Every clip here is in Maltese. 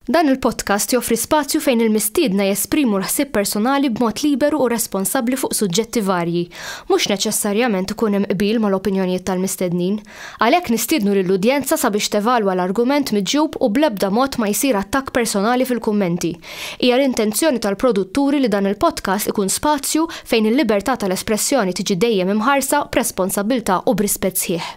Dan il-podcast joffri spazju fejn il-mistiedna jesprimu l-ħsieb personali b'mod liberu u responsabbli fuq suġġetti varji. Mhux neċessarjament ikun hemm qbil mal-opinjonijiet tal-mistednin. Għalhekk nistiednu lill-udjenza sabiex tevalwa l-argument miġjub u bl-ebda mod ma jsir attakk personali fil-kummenti. Hija l-intenzjoni tal-produtturi li dan il-podcast ikun spazju fejn il-libertà tal-espressjoni tiġi dejjem imħarsa b'responsabbiltà u b'rispett sħiħ.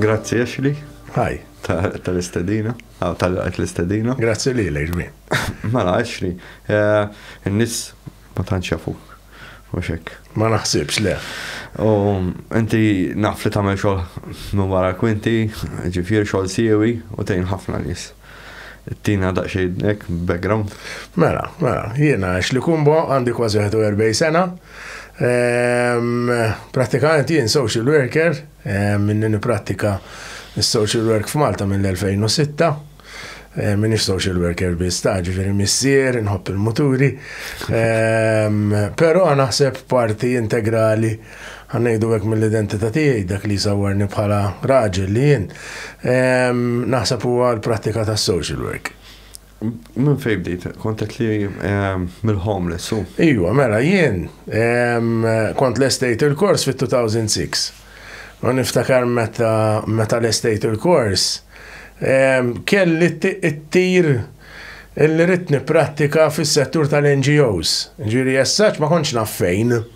Grazzi Ashley. Hi. Tal-istedina, għaw tal-għajt l-istedina. Grazzi li l-ġmi. Mela, Ashley, eh, n-nis ma tanċafuk. Muxek. Ma naħsibx le. U inti naf li tagħmel xogħol minn wara kwinti, ġifier xogħol siewi u tgħin ħafna nies. Tina daqsxejn hekk background. Mela, mela, jiena Ashley Kumbo għandi kważi 41 sena. Prattikament jien social worker, minni nipprattika s-social work f'Malta mill-2006. Minix social worker biss, ta' ġifieri missier, nħobb il-muturi. Però naħseb parti integrali Ħa ngħidu hekk mill-identità tiegħi dak li jsawwarni bħala raġel li jien. Naħseb huwa l-prattika tas-social work. Minn fejn bdejt, kontet li ehm, mill-homeless u. Ijwa, mela jien ehm, kont l-estate il-kors fit-2006. U niftakar meta meta l-estate il-kors ehm, kelli t-tir illi ritni prattika fis-settur tal-NGOs. Ġiri jessaċ ma konċ naffejn. fejn.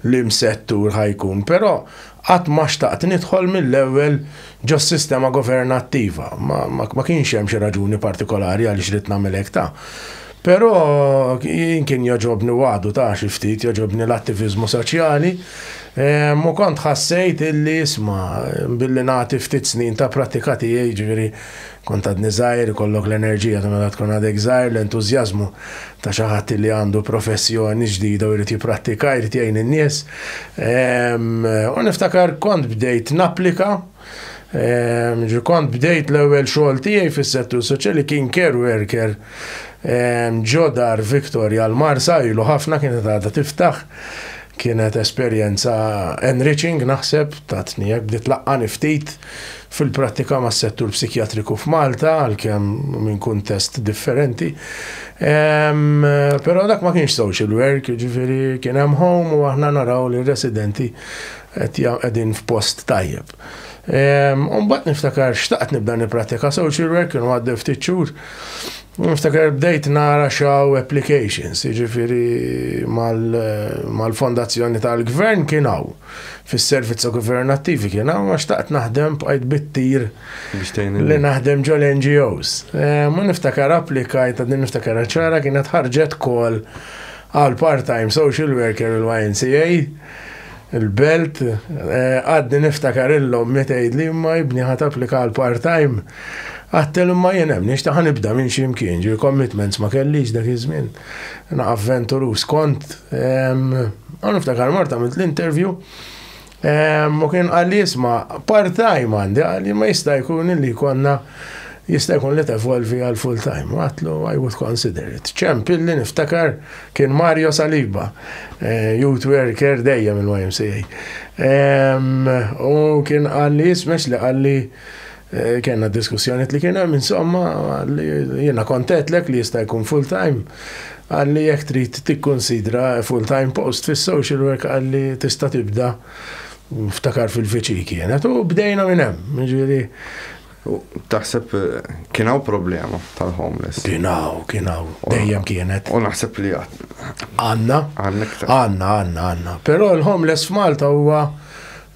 limm settur ħa jkun, però qatt ma xtaqt nidħol mill-ewwel ġos-sistema governattiva. Ma, ma, ma kienx hemm xi raġuni partikolari għaliex ridt nagħmel hekk ta'. Però jien kien joġobni wagħdu ta' xi ftit joġobni l-attiviżmu soċjali ehm, u kont ħassejt illi isma' billi nagħti ftit snin ta' prattika tiegħi ġifieri Kont għadni żgħir, ikollok l-enerġija ta' meta tkun għadek żgħir, l-entużjażmu ta' xi ħadd li għandu professjoni ġdida u jrid jipprattika, jrid jgħin in-nies. U niftakar kont bdejt napplika, ġi kont bdejt l-ewwel xogħol tiegħi fis-settur soċjali kien care worker ġo dar Victoria l-Marsa ilu ħafna kienet għadha tiftaħ. Kienet esperjenza enriching naħseb, tatni hekk bdiet tlaqqani ftit. Fil-prattika mas-settur psikjatriku f'Malta, għalkemm minn kuntest differenti, però dak ma kienx social work, jiġifieri kien hemm home u aħna naraw li r-residenti qed qegħdin f'post tajjeb. U mbagħad niftakar xtaqt nibda nipprattika social work, kienu għaddew ftit xhur, u niftakar bdejt nara x'hawn applications, jiġifieri mal-fondazzjoni tal-Gvern kien hawn. fis-servizza governattivi kien hawn ma xtaqt naħdem bqajt bit-tir li naħdem ġol NGOs. Eh, ma niftakar applikajt għad niftakar ċara kienet ħarġet kol għal part-time social worker il-YNCA il-belt eh, għaddi niftakar illum mitejd li ma jibni ħat applika għal part-time għattel ma jenem nix taħan ibda minn ximkien ġi commitments ma kellix dak iż-żmien. na avventurus kont, għan niftakar marta għamilt l-intervju, u kien għalli jisma part-time għandi, għalli ma jista' jkun li konna jista' jkun li tevolvi għal full-time. Għatlu, I would consider it. ċemp illi niftakar kien Mario Saliba, eh, youth worker dejjem il-YMCA. U kien għalli jismex li għalli Eh, kena diskussjoniet li kienem, insomma, jena kontetlek li jista' jkun full-time, għalli jek trid tikkonsidra full-time post fis social work għalli tista' tibda ftakar fil-fiċi kienet u bdejna minn hemm, ġieli. Taħseb eh, kien hawn problema tal-homeless. Kien hawn, kien hawn, dejjem kienet. U naħseb li għad. Għanna. Għanna, għanna, għanna. Però l-homeless f'Malta huwa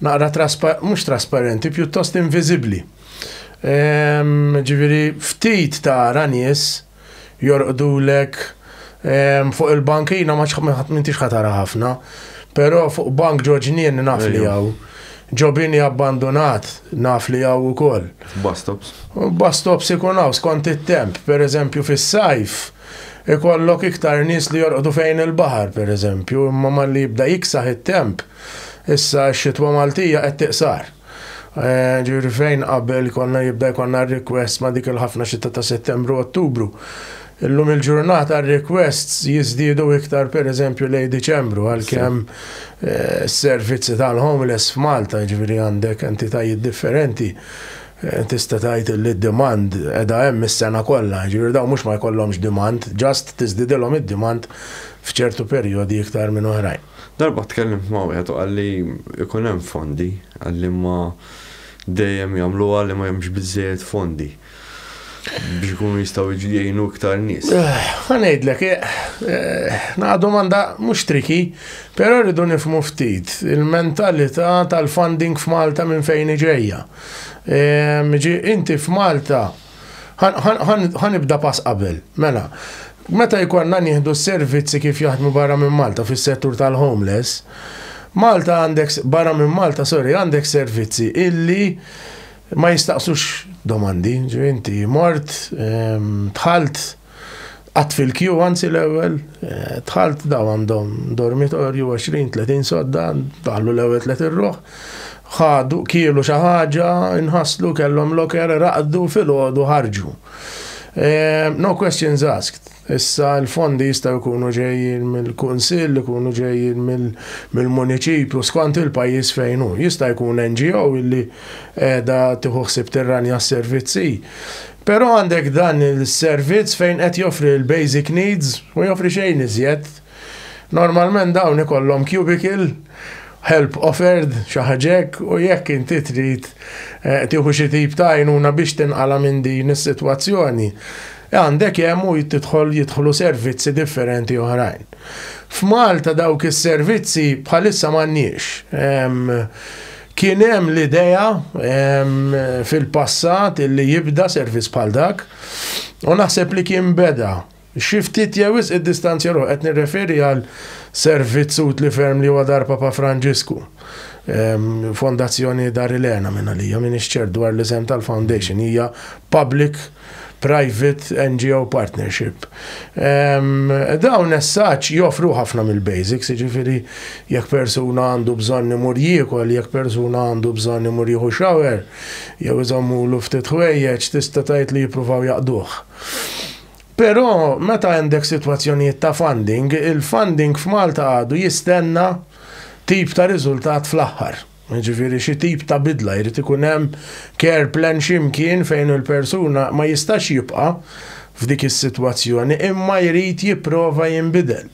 naqra traspa, mhux trasparenti, pjuttost inviżibbli. Ehm, ġifieri ftit tara nies jorqdulek ehm, fuq il-bankina ma m'intix ħatara ħafna, però fuq bank ġoġnien naf li hawn. Ġobini abbandonat naf li hawn ukoll. Bastops. Bastops ikun hawn skont it-temp, pereżempju fis-sajf ikollok iktar nies li jorqdu fejn il-baħar, pereżempju, imma malli jibda jiksaħ it-temp, Issa x-xitwa Maltija qed tiqsar. Ġifieri fejn qabel konna jibda jkollna r-requests ma' dik il-ħafna xita ta' Settembru u Ottubru, illum il-ġurnata r-requests jiżdiedu iktar pereżempju lejn Diċembru għalkemm s-servizzi tal-homeless f'Malta, jiġifieri għandek entitajiet differenti, tista' tgħid li d-demand qiegħda hemm is-sena kollha, jiġifieri dawn mhux ma jkollhomx demand, just tiżdidilhom id-demand f'ċertu perjodi iktar minn oħrajn. Darba tkellimt ma' wieħed u qalli jkun hemm fondi, qal imma dejjem jagħmluha li ma hemmx biżżejjed fondi biex ikunu jistgħu jgħinu iktar nies. Ħa ngħidlek, naqa' domanda mhux tricky, però rridu nifhmu ftit il-mentalità tal-funding f'Malta minn fejn hi ġejja. Inti f'Malta Ħa nibda pass qabel. Mela, meta jkollna nieħdu s-servizzi kif jaħdmu barra minn Malta fis-settur tal-homeless, Malta għandek, barra minn Malta, sorry, għandek servizzi illi ma jistaqsux domandi, ġifieri inti mort, ehm, dħalt, Qatt fil-kju, anzi l-ewwel, dħalt daw għandhom dormitorju 20-30 sodda, daħlu l-ewwel tliet irruħ, ħadu kielu xi ħaġa, inħasslu kellhom loker, raqdu filgħodu ħarġu. Ehm, no questions asked. Issa l-fondi jistgħu jkunu ġejjin mill-kunsill, ikunu ġejjin mill-muniċipju, skont il-pajjiż fejn hu. Jista' jkun NGO illi qiegħda tieħu ħsieb tirranja s-servizzi. Però għandek dan is-servizz fejn qed joffri l-basic needs u joffri xejn iżjed. Normalment dawn ikollhom cubicle, help offered, xi ħaġa hekk, u jekk inti trid tieħu xi tip ta' għajnuna biex tinqala' minn din is-sitwazzjoni, għandek hemm u tidħol jidħlu servizzi differenti oħrajn. F'Malta dawk is-servizzi bħalissa m'għandniex. Kien hemm l-idea fil-passat illi jibda servizz bħal dak u naħseb li kien beda. Xi ftit jew wisq iddistanzja ruħu, qed nirreferi għal servizz utli ferm li huwa Dar Papa Franġisku, Fondazzjoni Dar Ilena minn għalija, m'iniex ċert dwar l-isem tal-foundation, hija public private NGO partnership. Dawn essaċ joffru ħafna mill-basics, ġifiri jekk persuna għandu bżonn imur jiekol, jekk persuna għandu bżonn imur jieħu shower, jew iżommulu ftit ħwejjeġ, tista' tgħid li jippruvaw jaqduh. Però meta għandek sitwazzjonijiet ta' funding, il-funding f'Malta għadu jistenna tip ta' riżultat fl-aħħar. Jiġifieri xi tip ta' bidla, jrid ikun hemm care plan xi mkien fejn il-persuna ma jistax jibqa' f'dik is-sitwazzjoni imma jrid jipprova jinbidel.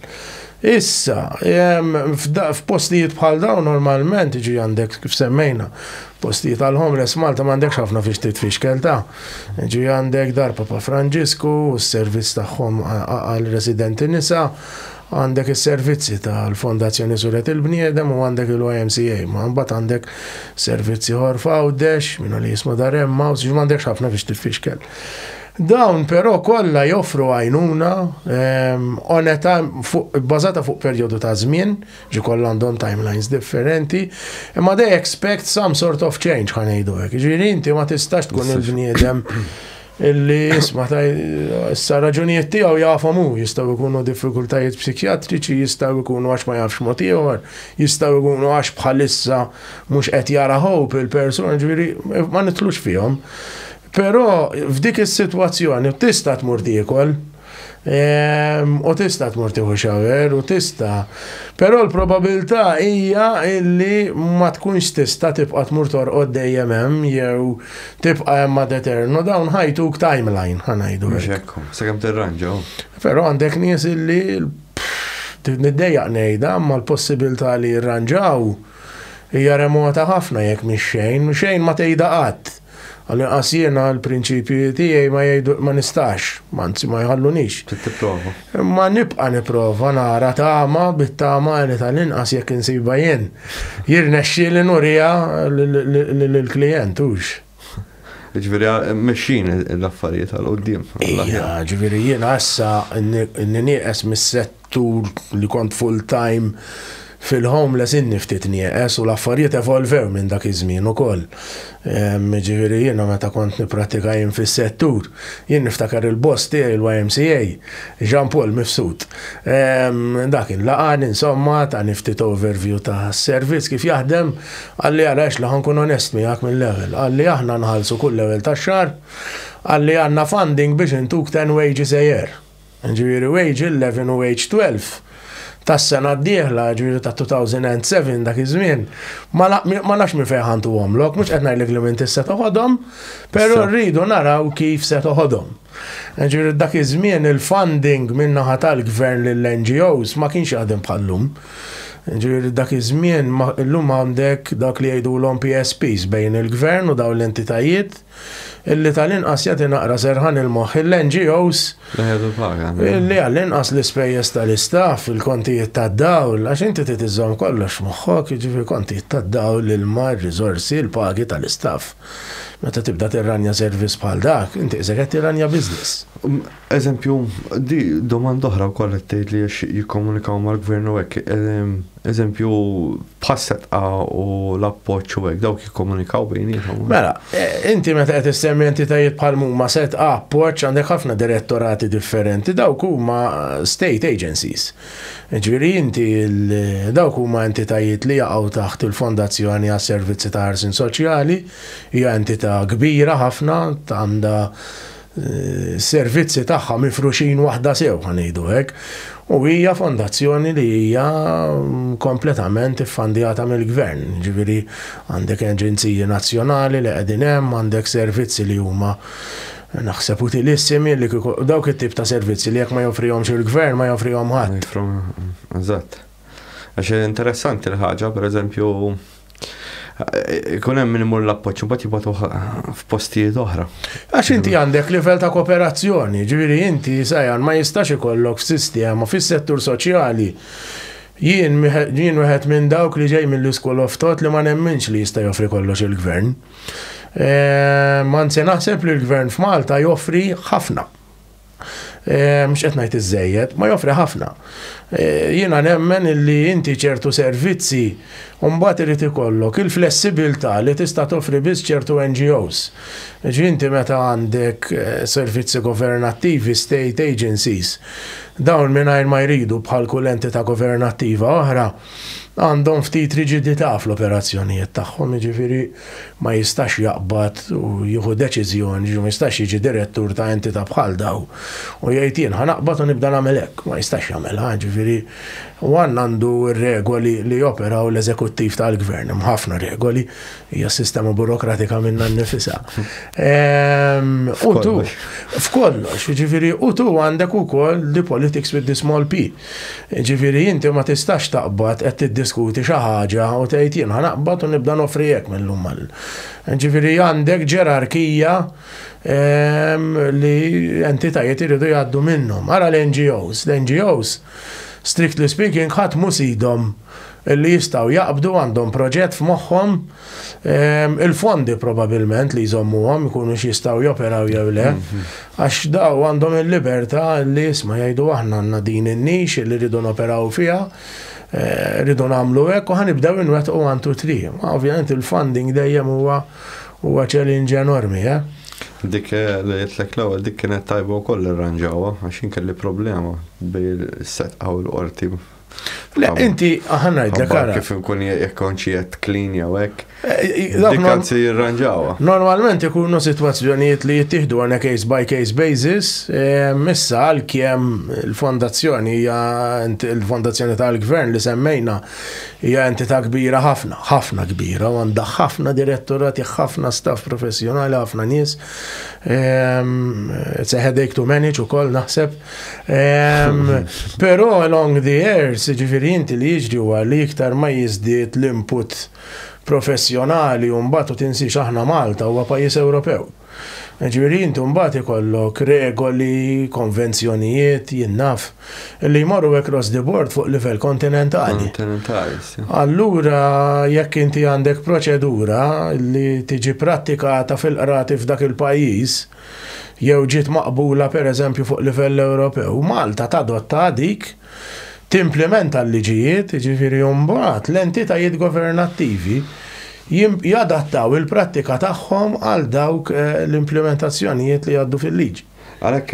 Issa, f'postijiet bħal dawn normalment jiġri għandek kif semmejna, postijiet għall-homeless Malta m'għandekx ħafna fiex titfixkel ta'. Jiġri għandek Dar Papa Franġisku u s-servizz tagħhom għal residenti nisa, Għandek is-servizzi tal-Fondazzjoni Suret il-Bniedem u għandek il-YMCA, ma mbagħad għandek servizz ieħor f'Għawdex, min li jisma' dar Emmaus, ġi m'għandekx ħafna biex tifixkel. Dawn però kollha joffru għajnuna ehm, oneta bbażata fuq perjodu ta' żmien, ġi kollha għandhom timelines differenti, imma they expect some sort of change ħanejdu hekk. Ġifieri inti ma tistax tkun il-bniedem Illi isma ta' issa raġunijiet tiegħu jafhom hu, jistgħu jkunu diffikultajiet psikjatriċi, jistgħu jkunu għax ma jafx mod ieħor, jistgħu jkunu għax bħalissa mhux qed jara hope il-persuna, ġifieri ma nitlux fihom. Però f'dik is-sitwazzjoni tista' tmur tiekol, U tista tmur tieħu xawer u tista. Però l-probabilità hija illi ma tkunx tista tibqa' tmur torqod dejjem hemm jew tibqa' hemm ad eterno dawn ħajtuk timeline ħanajdu. Sakemm tirranġa. Però għandek nies illi Niddejjaq ngħidha, ma l-possibilità li jirranġaw hija remota ħafna jekk mhix xejn, xejn ma tgħidha qatt. Għall-inqas jiena l-prinċipji tiegħi ma jgħidu ma nistax, anzi ma jħallunix. Tipprova. Imma nibqa' nipprova nara tama bit-tama li tal-inqas jekk insiba jien. Jirnexxi li nurija lill-klijent hux. Ġifieri mexxin l-affarijiet għal qudiem. Ġifieri jiena issa n-nieqes mis-sett Tul li kont full-time fil-homeless inni ftit nieqes u l-affarijiet evolvew minn dak iż-żmien ukoll. Jiġifieri jiena meta kont nipprattika jien fis-settur, jien niftakar il-boss tiegħi l-YMCA, Jean Paul Mifsud. Dak kien laqgħani insomma, tani ftit overview tas-servizz kif jaħdem, qalli ara għex li ħa nkun onest miegħek mill-ewwel, qalli aħna nħallsu kull ewwel tax-xahar, qalli għandna funding biex intuk ten wages a year. jiġifieri Wage 11 u Wage 12, tas-sena d-dieħla, jiġifieri ta' 2007 dak iż-żmien, ma nafx minn fejn ħa ntuhomlok, mhux qed ngħidlek li m'intix se toħodhom, però rridu naraw kif se toħodhom. Jiġifieri dak iż-żmien il-funding min-naħa tal-Gvern lill-NGOs ma kienx jaħdem bħal-lum. Jiġifieri dak iż-żmien, illum għandek dak li jgħidulhom PSPs bejn il-Gvern u dawn l-entitajiet, illi tal-inqas jagħti naqra serħan il-moħħ il-NGOs illi għall-inqas l-ispejjeż tal-istaff, il-kontijiet tad-dawl, għax inti trid iżżomm kollox moħħok, jiġifieri kontijiet tad-dawl, l-ilma, r-riżorsi, l-pagi tal-istaff. Meta tibda tirranja servizz bħal dak, inti qisek qed tirranja business. Um, eżempju, di domanda oħra wkoll qed tgħid li jikkomunikaw mal-gvern u hekk. Ehm, eżempju, bħas-setqa u l-appoġġ u hekk dawk jikkomunikaw bejniethom. Mela, e, inti meta qed issemmi entitajiet bħal huma setqa appoġġ għandek ħafna direttorati differenti, dawk huma state agencies. Ġifieri inti dawk huma entitajiet li jaqgħu taħt il-Fondazzjoni għas servizzi ta' ħarsin soċjali, hija entità kbira ħafna għandha servizzi tagħha mifruxin waħda sew ħa ngħidu hekk. U hija fondazzjoni li hija mm, kompletament iffandjata mill-gvern. Ġifieri għandek aġenziji nazzjonali li qegħdin hemm, għandek servizzi li huma naħseb utilissimi li dawk it-tip ta' servizzi li jekk ma joffrihomx il-gvern ma joffrihom ħadd. Eżatt. Għax interessanti l-ħaġa, pereżempju, Ikun hemm min imur l-appoġġ imbagħad jibgħatu f'postijiet oħra. Għax inti għandek livell ta' kooperazzjoni, ġifieri inti sajan ma jistax ikollok sistema fis-settur soċjali Jien jien wieħed minn dawk li ġej mill-iskol of thought li ma nemminx li jista' joffri kollox il-gvern. Eh, ma nse naħseb li l-gvern f'Malta joffri ħafna. Eh, mhux qed ngħid iżejjed, ma joffri ħafna. Eh, jiena nemmen illi inti ċertu servizzi mbagħad irid ikollok il-flessibilità li tista' toffri biss ċertu NGOs. Ġinti meta għandek eh, servizzi governattivi, state agencies, dawn mingħajr ma jridu bħal kull entità governattiva oħra, għandhom ftit riġidità fl-operazzjonijiet tagħhom, jiġifieri ma jistax jaqbad u jieħu deċiżjoni, jiġifieri ma jistax jiġi direttur ta' entità bħal dawn u jgħid jien ħa naqbad u nibda nagħmel hekk, ma jistax jagħmilha, jiġifieri u għan għandu r-regoli li joperaw l-eżekuttiv tal-gvern, hemm ħafna regoli, hija s-sistema burokratika minnha nnifisha. Ehm, u tu, f'kollox, jiġifieri u tu għandek ukoll the politics with the small p. Jiġifieri inti ma tistax taqbad qed tiddiskuti xi ħaġa u tgħid jien ħa naqbad u nibda noffri hekk mil-lum għal. Jiġifieri għandek ġerarkija li entitajiet iridu jgħaddu minnhom. Ara l-NGOs, l-NGOs strictly speaking ħadd mhu sidhom. li jistgħu jaqbdu għandhom proġett f'moħħhom, il-fondi probabilment li jżommuhom ikunu x'jistgħu joperaw jew le, għax daw għandhom il-libertà li jisma' jgħidu aħna għandna din in-nix li rridu noperaw fiha, eh, rridu nagħmlu hekk u ħanibdew inwettqu għandu tri. Ovvjament il-funding dejjem huwa huwa challenge enormi, eh? Dik eh, li jitlek l-ewwel dik kienet tajba wkoll irranġawha għax inkelli problema bejn is-setqa u l-qorti Le, inti, ħanna id-dek għara. Kif nkun jekkonċi jett clean jew hekk. Eh, Dikkan si jirranġawa. Normalment ikunu situazzjonijiet li jittihdu għana case by case basis, eh, missa għal kiem il-fondazzjoni hija il-fondazzjoni tal-gvern li semmejna hija entità kbira ħafna, ħafna kbira, għandha ħafna direttorati, ħafna staff professjonali, ħafna nies. It's a headache to manage u koll naħseb. Pero along the years, ġifiri inti li jiġri huwa li iktar ma jizdiet l-input professjonali u mbagħad u tinsiex aħna Malta huwa pajjiż Ewropew. Ġifiri inti mbagħad ikollok regoli, konvenzjonijiet, jinnaf, li jmorru across the board fuq livell kontinentali. Allura jekk inti għandek proċedura li tiġi prattikata fil-qrati f'dak il-pajjiż, jew ġiet maqbula pereżempju fuq livell Ewropew, Malta tadottha dik, timplimenta l-liġijiet, jiġifieri mbagħad l-entitajiet governattivi jadattaw il-prattika tagħhom għal dawk l-implimentazzjonijiet li jgħaddu fil-liġi. Għalhekk,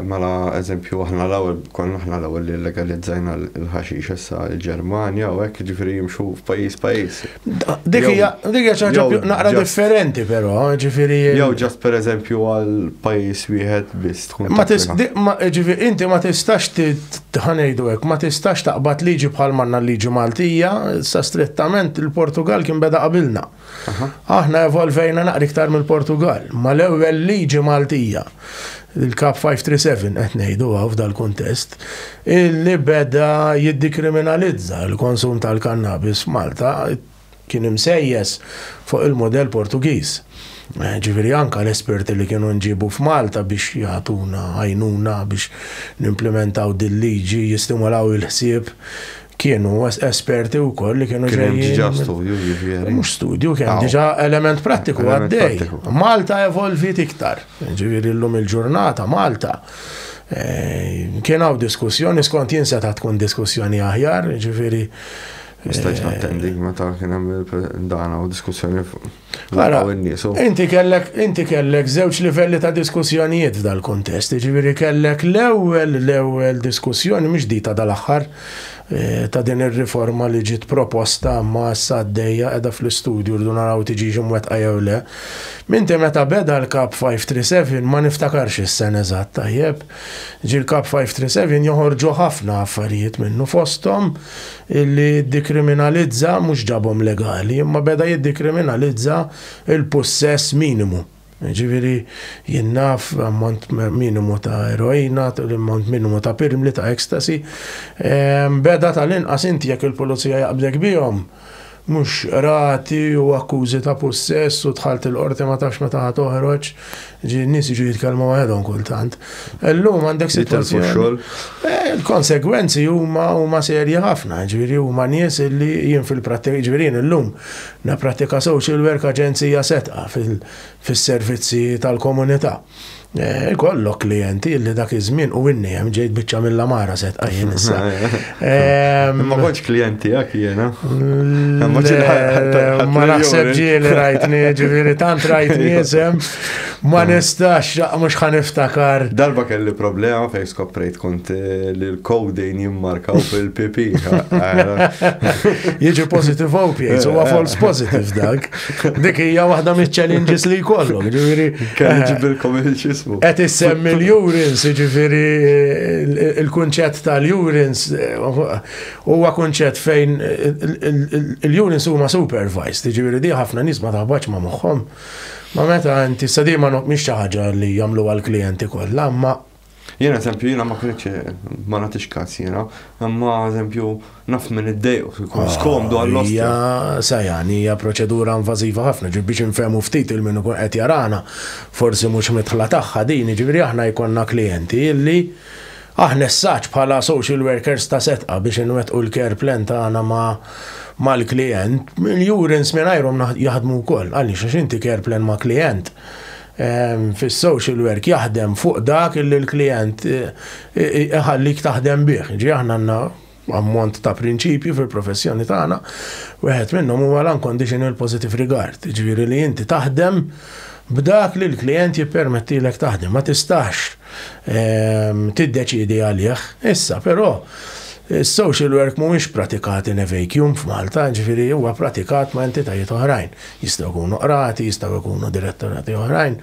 mela, eżempju, aħna l-ewwel, konna aħna l-ewwel li llegalizzajna l-ħaxix, issa l-Ġermanja u hekk, jiġifieri jimxu f'pajjiż pajjiż. Dik hija xi ħaġa naqra differenti però, ġifieri. Jew ġast pereżempju għal pajjiż wieħed biss tkun. Ma ġifieri inti ma tistax tħanejdu hekk, ma tistax taqbad liġi bħal manna liġi Maltija, sa strettament il-Portugal kien beda qabilna. Aħna evolvejna naqra iktar mill-Portugal, ma l-ewwel liġi Maltija. il-Kap 537 qed ngħidu hawn f'dal-kuntest, illi beda jiddikriminalizza l-konsum tal-kannabis f'Malta kien imsejjes fuq il-mudell Portugiż. Eh, ġifieri anka l-esperti li kienu nġibu f'Malta biex jagħtuna għajnuna biex nimplementaw dil-liġi jistimulaw il-ħsieb Kienu esperti u koll li kienu ġejjin. Kienu ġa studju ġifiri. Mux studju, kienu ġa element prattiku għaddej. Malta evolvit iktar. Ġifiri l-lum il-ġurnata, Malta. Eh, kien hawn diskussjoni, skont jien seta' tkun diskussjoni aħjar, ġifiri. Mistajx eh, nattendi, meta kien hemm dana u diskussjoni Ara, inti kellek, inti kellek żewġ livelli ta' diskussjonijiet f'dal-kontest, ġiviri kellek l-ewwel, l-ewwel diskussjoni mhux di ta' dal-aħħar eh, ta' din ir-riforma li ġiet proposta ma' issa għaddejja qiegħda fl-istudju rdu naraw tiġi imwettqa jew le. Minti meta beda l-kap 537 ma niftakarx is-sen eżatt tajjeb. Ġi l-kap 537 joħorġu ħafna affarijiet minnu fosthom li jiddikriminalizza mhux ġabhom legali, imma beda jiddikriminalizza l-pussess minimu. Jiġifieri jien naf ammont minimu ta' eroina, l-ammont minimu ta' pirmli, ta' ecstasy. Beda tal-inqas inti jekk il-pulizija jaqbdek bihom, mhux qrati u akkużi ta' pussess u dħalt il-Qorti ma tafx meta ħa toħroġ, ġi n-nies jiġu jitkellmu waħedhom kultant. Illum għandek sitwazzjoni. Jitilfu x-xogħol? Eh, il-konsegwenzi huma huma serji ħafna, ġifieri huma nies li jien fil-prattika ġifieri illum nappratika social work aġenzija setqa fis-servizzi tal-komunità. Eh, ikollok klienti li dak iż-żmien u inni hemm ġejt biċċa mill-amara set għajjin issa. Ma kontx klienti għak jiena. Ma naħseb ġieli rajtni, ġifieri tant rajtni isem, ma nistax mhux ħan iftakar. Darba kelli problema fejn skoprejt kont eh, li l-kodejn jimmarkaw fil-pipi. Jiġi positive opiates, huwa false positive dak. Dik hija waħda mill-challenges li jkollok, ġifieri. Kelli eh, ġibilkom il-ġismu. Qed issemmi l-urins, ġifieri eh, il-kunċett tal-urins eh, huwa kunċett fejn il-urins huma supervised, ġifieri di ħafna nies ma taħbax ma' moħħhom. Ma meta inti sadima mhix xi ħaġa li jagħmlu għall-klijenti kollha, ma Jien eżempju, jiena ma kunitx ma nagħtix każ jiena, imma eżempju naf minn iddejqu jkun ah, skomdu għall-ostja. Hija sajani hija proċedura invażiva ħafna, ġifieri biex infehmu ftit il min ikun qed jarana, forsi mhux mitħla tagħha din, ġifieri aħna jkollna klijenti illi aħna s-saċ bħala social workers ta' setqa biex inwettqu l-care plan tagħna ma' mal-klient, il-jurins minn jaħdmu wkoll, għaliex għax inti care plan ma' klient Fis-social work jaħdem fuq dak illi l-klijent iħallik taħdem bih. Jiġifieri aħna għandna ammont ta' prinċipji fil-professjoni tagħna, wieħed minnhom huwa l-unconditional positive regard, jiġifieri li inti taħdem b'dak li l-klijent jippermettilek taħdem, ma tistax tiddeċiedi għalih. Issa, però, is-social work mhuwiex pratikat in a vacuum f'Malta, jiġifieri huwa pratikat ma' entitajiet oħrajn. Jistgħu jkunu qrati, jistgħu jkunu direttorati oħrajn.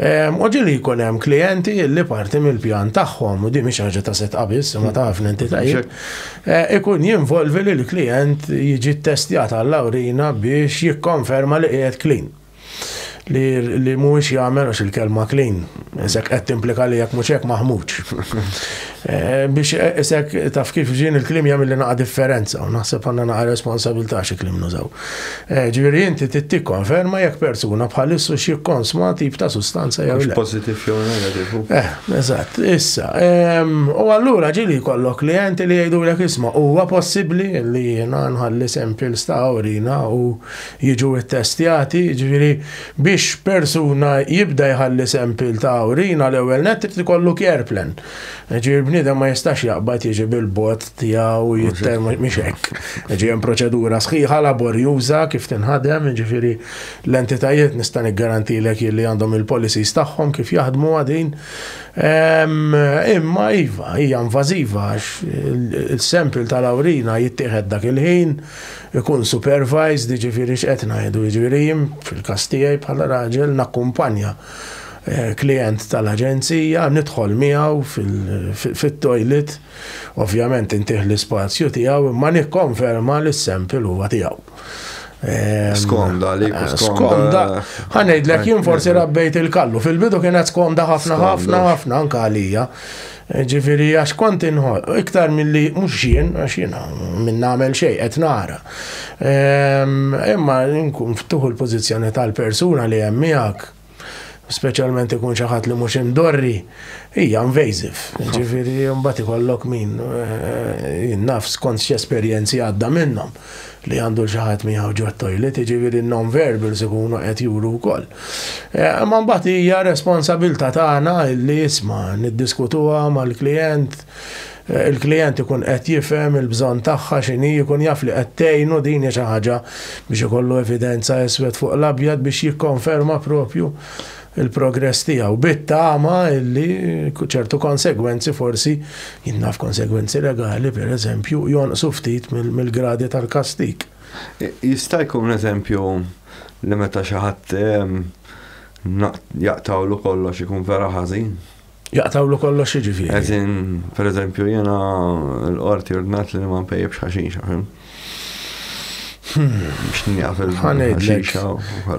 Ehm, u ġili jkun hemm klijenti li parti mill-pjan tagħhom u di mhix ħaġa ta' set qabis, ma ta' ħafna entitajiet, eh, ikun jinvolvi li l-klijent jiġi ttestjat għall-awrina biex jikkonferma li qiegħed klin li mhuwiex jagħmel għax il-kelma clean, sekk qed timplika li jekk mhux hekk maħmuġ. Eh, biex eh, isek taf kif ġin il-klim jagħmel li naqa' differenza u naħseb għandna naqa' responsabilità xi klim nużaw. Eh, ġifieri inti tittik konferma jekk persuna bħal issu xi konsma tip ta' sustanza jew le. Positiv jew negativ. Eh, eżatt, issa. Ehm, u allura ġili kollok klienti li jgħidu l isma' huwa possibbli li jiena nħalli sempil sta' orina u jiġu ttestjati, ġifieri Biex persuna jibda jħalli sempil ta' urina l-ewwel nett irid ikollu care plan. Jiġifieri bniedem ma jistax jaqbad jiġi bil-bot tiegħu jitter mhix hekk. Jiġifieri hemm proċedura sħiħa laborjuża kif tinħadem, jiġifieri l-entitajiet nista' niggarantilek jien li għandhom il-policies tagħhom kif jaħdmuha din. Imma iva, hija invażiva għax is-sempil tal-urina jittieħed dak il-ħin, Ikun supervised jiġifieri x'qed ngħidu? Jiġifieri jien fil-każ tiegħi bħala raġel nakkumpanja klijent tal-aġenzija, nidħol miegħu fit-toilet, ovvjament intih l-ispazju tiegħu imma nikkonferma li s-sample huwa tiegħu. Ehm, skomda li eh, skomda. Ħanejdlek jien forsi rabbejt il-kallu. Fil-bidu kienet skomda ħafna ħafna ħafna anka għalija. Ġifieri għax kont inħoss, iktar milli mhux jien, għax jiena min nagħmel xejn qed nara. Ehm, imma nkun ftuħ il-pożizzjoni tal-persuna li hemm miegħek, speċjalment ikun xi ħadd li mhux indorri, hija invasive. Ġifieri mbagħad ikollok min eh, naf skont x'esperjenzi għadda minnhom. li għandu xi ħadd miegħu ġo t-toilet, jiġifieri n-non-verbals ikunu qed juru wkoll. Eh, imma mbagħad hija responsabilità tagħna illi isma' niddiskutuha mal-klijent, eh, il-klijent ikun qed jifhem il-bżonn tagħha x'inhi jkun jaf li qed tgħinu din xi ħaġa biex ikollu evidenza iswed fuq l-abjad biex jikkonferma propju il-progress tiegħu bit-tama illi ċertu konsegwenzi forsi, jien naf konsegwenzi legali pereżempju, jonqsu ftit mill-gradi tal-kastig. Jista' jkun eżempju li meta xi ħadd jaqtgħulu kollox ikun vera ħażin? Jaqtawlu kollox jiġifieri. Eżin, per eżempju, jena l-qorti ordnat li ma npejjibx ħaxixa, fim? Biex njaf il-ħaxixa.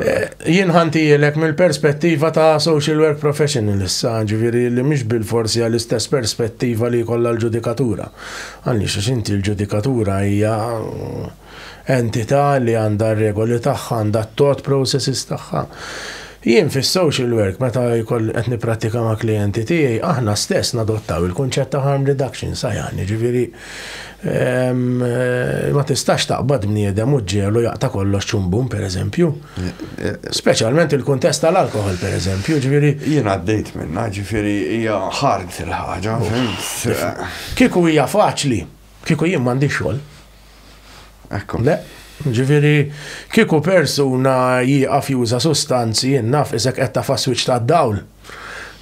Eh, jien ħantijilek mill-perspettiva ta' social work professional issa, ġifieri li mhix bil-forsi għall-istess perspettiva li kollha l-ġudikatura. Għaliex x'inti l-ġudikatura hija Entità li għandha r-regoli tagħha, għandha t-thought processes tagħha. Jien fis-social work meta jkolli qed nipprattika ma' klijenti tiegħi, aħna stess nadottaw il-kunċett ta' harm reduction, sajjan, jiġifieri ma tistax taqbad bniedem u ġġiegħlu jaqta' kollox ċum bum, pereżempju. Speċjalment il-kuntest tal-alkoħol, pereżempju, jiġifieri. Jien għaddejt minnha, jiġifieri hija hard il-ħaġa, fimt. Kieku hija faċli. Kieku jien m'għandix xogħol. Ekku. Le, ġifieri kieku persuna jieqaf juża sustanzi jien naf isek qed tafa' swiċċ tad-dawl.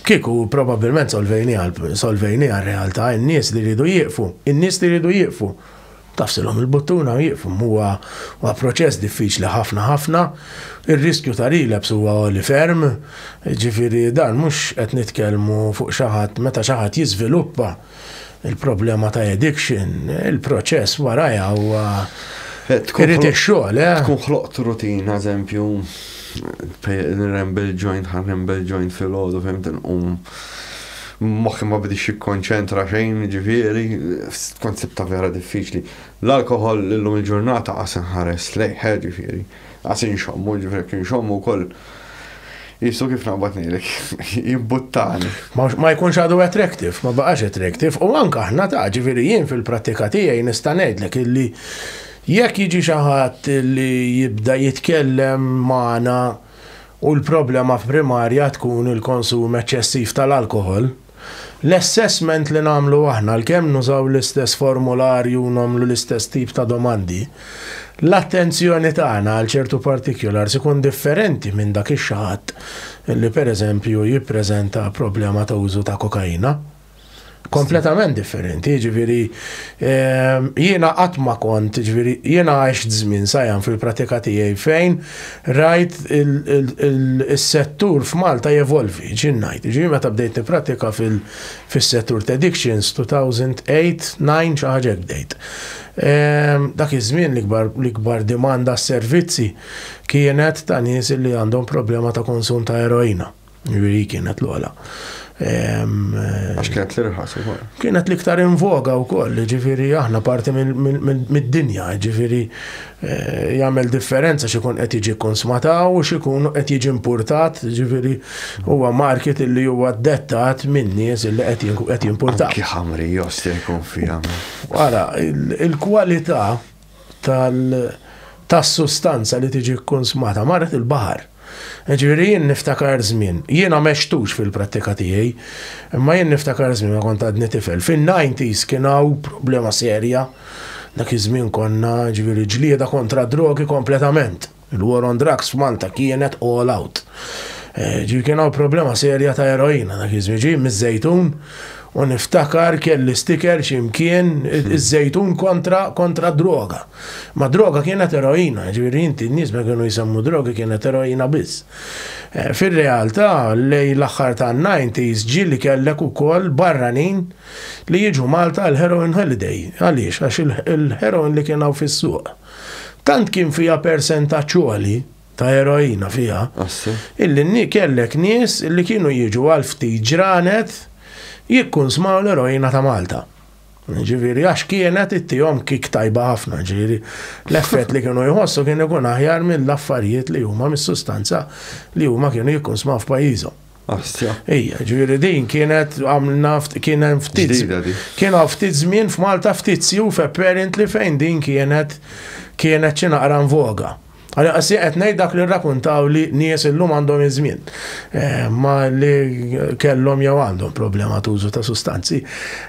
Kieku probabbilment solvejni għal solvejni għal realtà in-nies li jridu jieqfu, in-nies li jridu jieqfu. Tafsilhom il-buttuna u jieqfu huwa huwa proċess diffiċli ħafna ħafna. Ir-riskju ta' relapse huwa għoli ferm, ġifieri dan mhux qed nitkellmu fuq xi ħadd meta xi ħadd jiżviluppa il-problema ta' addiction, il-proċess warajha huwa eh, irid ix-xogħol, eh? Tkun ħloqt rutina, eżempju, nrembel joint, ħanrembel joint fil-ħodu, fimt nqum. Moħħi ma bidix jikkonċentra xejn, ġifieri, konsibta vera diffiċli. L-alkohol l-lum il-ġurnata għasen ħares lejħe, ġifieri. Għas inxommu, ġifri jekk inxommu wkoll jisu kif naqbad ngħidlek, jimbuttani. Ma jkunx għadu attractive, ma baqax attractive, u anka aħna ta' ġifiri jien fil-prattika tiegħi nista' ngħidlek illi jekk jiġi xi ħadd li jibda jitkellem magħna u l-problema f'primarja tkun il-konsum eċċessiv tal-alkohol, L-assessment li nagħmlu aħna, għalkemm nużaw l-istess formularju u nagħmlu l-istess tip ta' domandi, l-attenzjoni tagħna għal ċertu particulars ikun differenti minn dak ix-xahadd li pereżempju jippreżenta problema ta' użu ta' kokaina. Kompletament differenti, jiġifieri jiena qatt ma kont, jiġifieri jiena għext żmien sajjan fil-pratika tiegħi fejn Rajt is-settur f'Malta jevolvi, ġieli ngħid. Jiġifieri meta bdejt nipprattika fis-settur ta' addictions, 2008, 9 xi ħaġa hekk bdejt. Ehm, dak iż-żmien l-ikbar dimanda s-servizzi kienet ta' nies li għandhom problema ta' konsum ta' eroina. Ġviri kienet l-għala. Għax kienet l-irħas u koll. Kienet l-iktar invoga u koll, ġviri aħna parti mid-dinja, ġviri eh, jgħamil differenza xikun qed jiġi konsmataw u xikun qed jiġi importat, ġviri huwa market illi huwa dettat minn nies illi qed jimportat. Ki ħamri josti jkun fija. Għara, il-kwalità tas-sustanza li tiġi kkunsmata marret il-baħar. Jiġifieri jien niftakar żmien, jiena m'għextux fil-prattika tiegħi, imma jien niftakar żmien meta kont għadni tifel. Fin-nineties kien hawn problema serja, dak iż-żmien konna, jiġifieri ġlieda kontra d-drogi kompletament. Il-war on drugs f'Malta kienet all out. Ġifieri kien hawn problema serja ta' eroina dak iż-żmien. Ġej miż-Żejtun u niftakar kelli sticker xi mkien iż-Żejtun kontra kontra d-droga. Ma d-droga kienet eroina, ġifieri inti n-nies meta kienu jsemmu drogi kienet eroina biss. Fir-realtà lejn l-aħħar tan-nineties ġie li kellek ukoll barranin li jiġu Malta għall-heroin holiday. Għaliex? Għax il-heroin li kien hawn fis-suq. Tant kien fiha persentaġġ għoli ta' eroina fiha, illi nni kellek nies li kienu jiġu għal ftit ġranet jikkunsmaw l-eroina ta' Malta. Ġifieri għax kienet ittihom kick tajba ħafna, ġifieri l-effett li kienu jħossu kien ikun aħjar mill-affarijiet li huma mis-sustanza li huma kienu jikkunsmaw f'pajjiżhom. Astra. Ija, ġviri din kienet għamlna kien hemm ftit. Kien għaw ftit żmien f'Malta ftit siju f'apparent li fejn din kienet kienet xi naqra voga. Għalli għassi qed ngħid dak li rrakuntaw li nies illum għandhom iż-żmien. Eh, ma li kellhom jew għandhom problema tużu ta' sustanzi.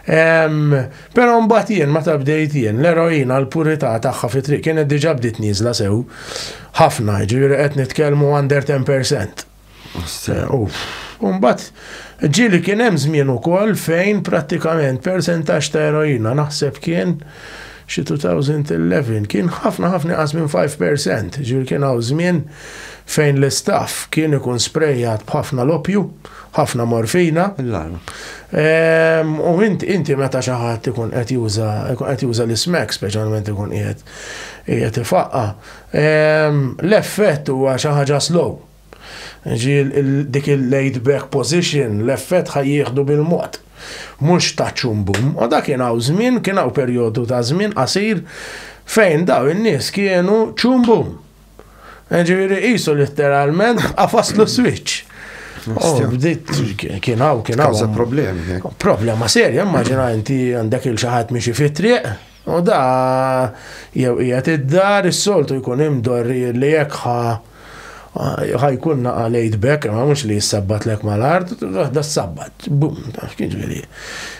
Però mbagħad jien meta bdejt jien l-eroina l-purità tagħha fi triq kienet diġà bdiet nieżla sew ħafna, ġifieri qed nitkellmu under 10%. Sew. Umbat, ġili kien hemm żmien ukoll fejn prattikament persentaġġ ta' eroina naħseb kien xi 2011 kien ħafna ħafna qas minn 5%, ġifieri kien hawn żmien fejn l-istaff kien ikun sprejjat b'ħafna l-opju, ħafna morfina. Ehm, u inti meta xi ħadd ikun qed juża l-ismek, speċjalment ikun qiegħed qiegħed ifaqqa, L-effett huwa xi ħaġa slow. Jiġifieri dik il-laid back position, l-effett ħa jieħdu bil-mod. Mhux ta' ċum bum. U da kien hawn żmien, kien hawn perjodu ta' żmien qasir fejn daw in-nies kienu ċum bum. Jiġifieri qisu litteralment qafaslu s-swiċċ. Kien hawn, kien hawn. Problema serja, immaġina inti għandek il-xi ħadd miexi fit-triq. Għoda jew qiegħed id-dar, is-soltu jkun imdorrir li jekk ħa ħa jkun naqa' l-Għid b'hekk, imma mhux li jissabbatlek mal-art, waħda ssabbat. Bum, taf kif jiġifieri.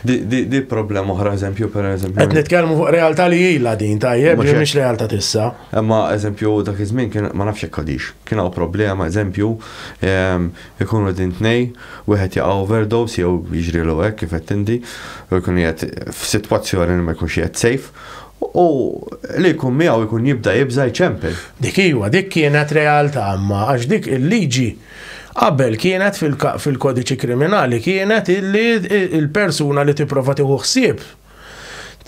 Di di problema oħra eżempju per eżempju. Qed nitkellmu fuq realtà li ilha din tajjeb, li mhix realtà tissa. Imma eżempju dak iż-żmien kien ma nafx jekk għadix. Kien hawn problema eżempju Ikunu qegħdin tnej, wieħed jaqa' overdose jew jiġrielu hekk kif għedt inti, u jkun qiegħed f'sitwazzjoni li ma jkunx qiegħed safe, u li jkun miegħu jkun jibda jibża' jċempel. Dik iva, dik kienet realtà imma għax dik il-liġi qabel kienet fil-kodiċi kriminali kienet illi l-persuna li tipprova tieħu ħsieb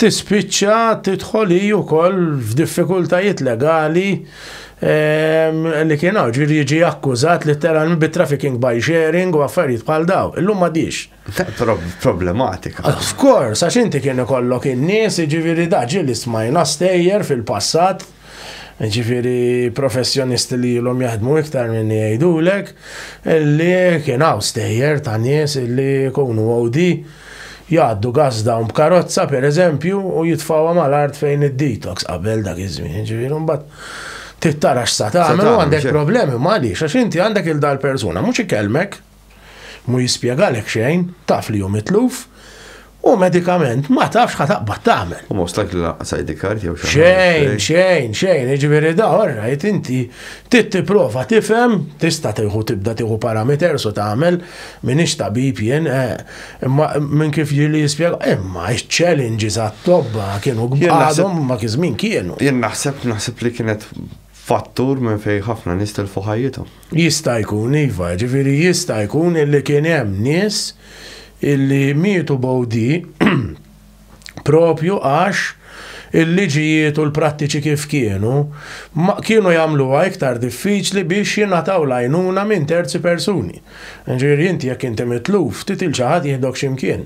tispiċċa tidħol hi wkoll f'diffikultajiet legali ehm, li kien hawn ġifieri jiġi akkużat letteralment bi trafficking by sharing u affarijiet bħal daw. Illum ma dix. Problematika. Of course, għax inti kien ikollok in-nies, jiġifieri daġi li smajna stejjer fil-passat Ġifiri professjonisti li jilom jaħdmu iktar minn jgħidulek li kien hawn stejjer ta' nies li kunu għodi jgħaddu gazda un b'karozza per eżempju u jitfawa mal-art fejn id-detox qabel dak iż-żmien. Ġifiri mbagħad tittara x'sa tagħmel għandek problemi ma għaliex għax inti għandek il-dal persuna mhux ikelmek. Mhu jispjegalek xejn, taf li hu mitluf, u medikament ma tafx ħa taqbad tagħmel. U most likely lanqas ID card jew xi Xejn, xejn, xejn, jiġifieri da orrajt inti trid tipprova tifhem, tista' tieħu tibda tieħu parameters u tagħmel m'iniex tabib jien, eh, imma minn kif ġieli jispjega, imma ċ-challenges għat-tobba kienu għadhom ma kiżmin kienu. Jien naħseb naħseb li kienet fattur minn fejn ħafna nies tilfu ħajjithom. Jista' jkun, iva, ġifieri jista' jkun illi kien hemm nies illi mietu b'OD proprju għax il-liġijiet u l-prattiċi kif kienu ma kienu jagħmluha iktar diffiċli biex jingħataw l-għajnuna minn terzi persuni. Ġifieri inti jekk inti mitluf, ftit 'il xi ħadd jieħdok xi mkien.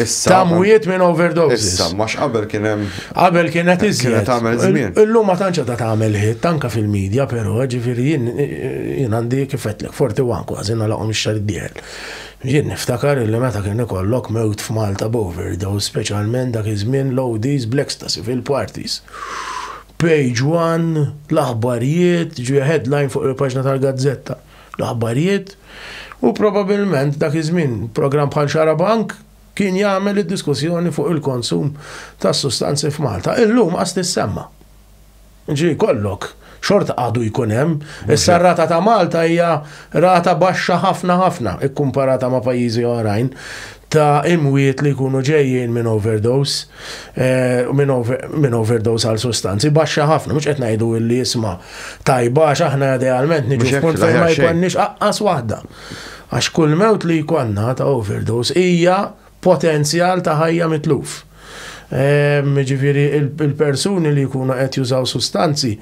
Issa. Ta' mwiet minn overdoses. Issa, mux qabel kien hemm. Qabel kien qed iżjed. Kienet tagħmel żmien. Illum ma tantx ta' tagħmel ħitt anke fil-medja, però ġifieri jien jien għandi kif qedlek 41 kważi nagħlaqhom ix-xahar dieħel. Jien niftakar li meta kien ikollok mewt f'Malta b'overdose, speċjalment dak iż-żmien l-ODs bl-ecstasy fil-parties. Page one, l-aħbarijiet, ġie headline fuq il-paġna tal-gazzetta. l-aħbarijiet, u probabilment dak iż-żmien programm bħal Xarabank kien jagħmel id-diskussjoni fuq il-konsum tas-sustanzi f'Malta. Illum qas tissemma'. Ġifieri jkollok xorta għadu jkun hemm. Issa r-rata ta' Malta hija rata baxxa ħafna ħafna kkumparata ma' pajjiżi oħrajn. ta' imwiet li jkunu ġejjin minn overdose, minn overdose għal sustanzi, baxxa ħafna, mhux qed ngħidu li jisma tajba għax aħna idealment niġu f'punt fejn ma jkollniex aqqas waħda. Għax kull mewt li jkollna ta' overdose hija potenzjal ta' ħajja mitluf. Ġifieri il-persuni li jkunu qed jużaw sustanzi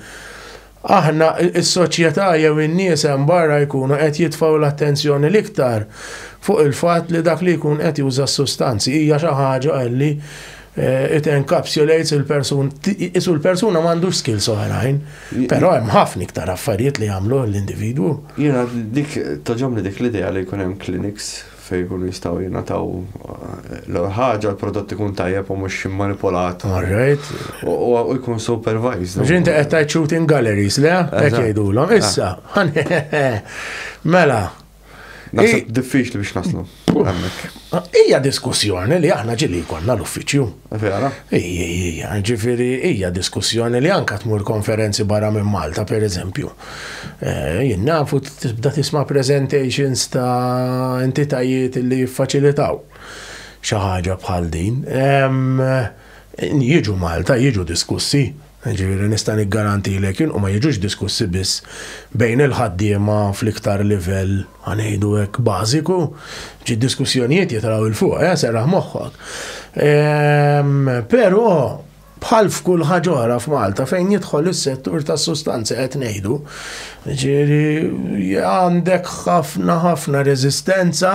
Aħna, is-soċjetà jew in-nies hemm barra jkunu qed jitfgħu l-attenzjoni l-iktar fuq il-fatt li dak li jkun qed juża s-sustanzi hija xi ħaġa li it encapsulates il-persuna, qisu l-persuna m'għandux skills oħrajn, però hemm ħafna iktar affarijiet li jagħmluh l-individwu. Jiena dik togħġobni dik l-idea li jkun hemm clinics. fejn ikunu jistgħu jingħataw l-ewwel ħaġa l-prodott ikun tajjeb u mhux immanipolat. All right. U jkun supervised. Ġin ta' qed tajt shooting galleries, le? Qed jgħidulhom. Ah. Issa, mela. Naħseb diffiċli biex naslu. Ija diskussjoni li aħna ġili konna l-uffiċċju. Vera? Ija, ija, ġifiri, ija diskussjoni li anka tmur konferenzi barra minn Malta, per eżempju. Eh, jien nafu tibda tisma presentations ta' entitajiet li jiffaċilitaw xi ħaġa bħal din. Jiġu Malta, jiġu diskussi, Jiġifieri nista' niggarantilek jien u ma jiġux diskussi biss bejn il-ħaddiema fl-iktar livell, ħa ngħidu hekk, bażiku. Xi diskussjonijiet jitraw 'il fuq, eh, serraħ moħħok. Però bħal f'kull ħaġa oħra f'Malta fejn jidħol is-settur tas-sustanzi qed ngħidu, jiġifieri għandek ħafna ħafna reżistenza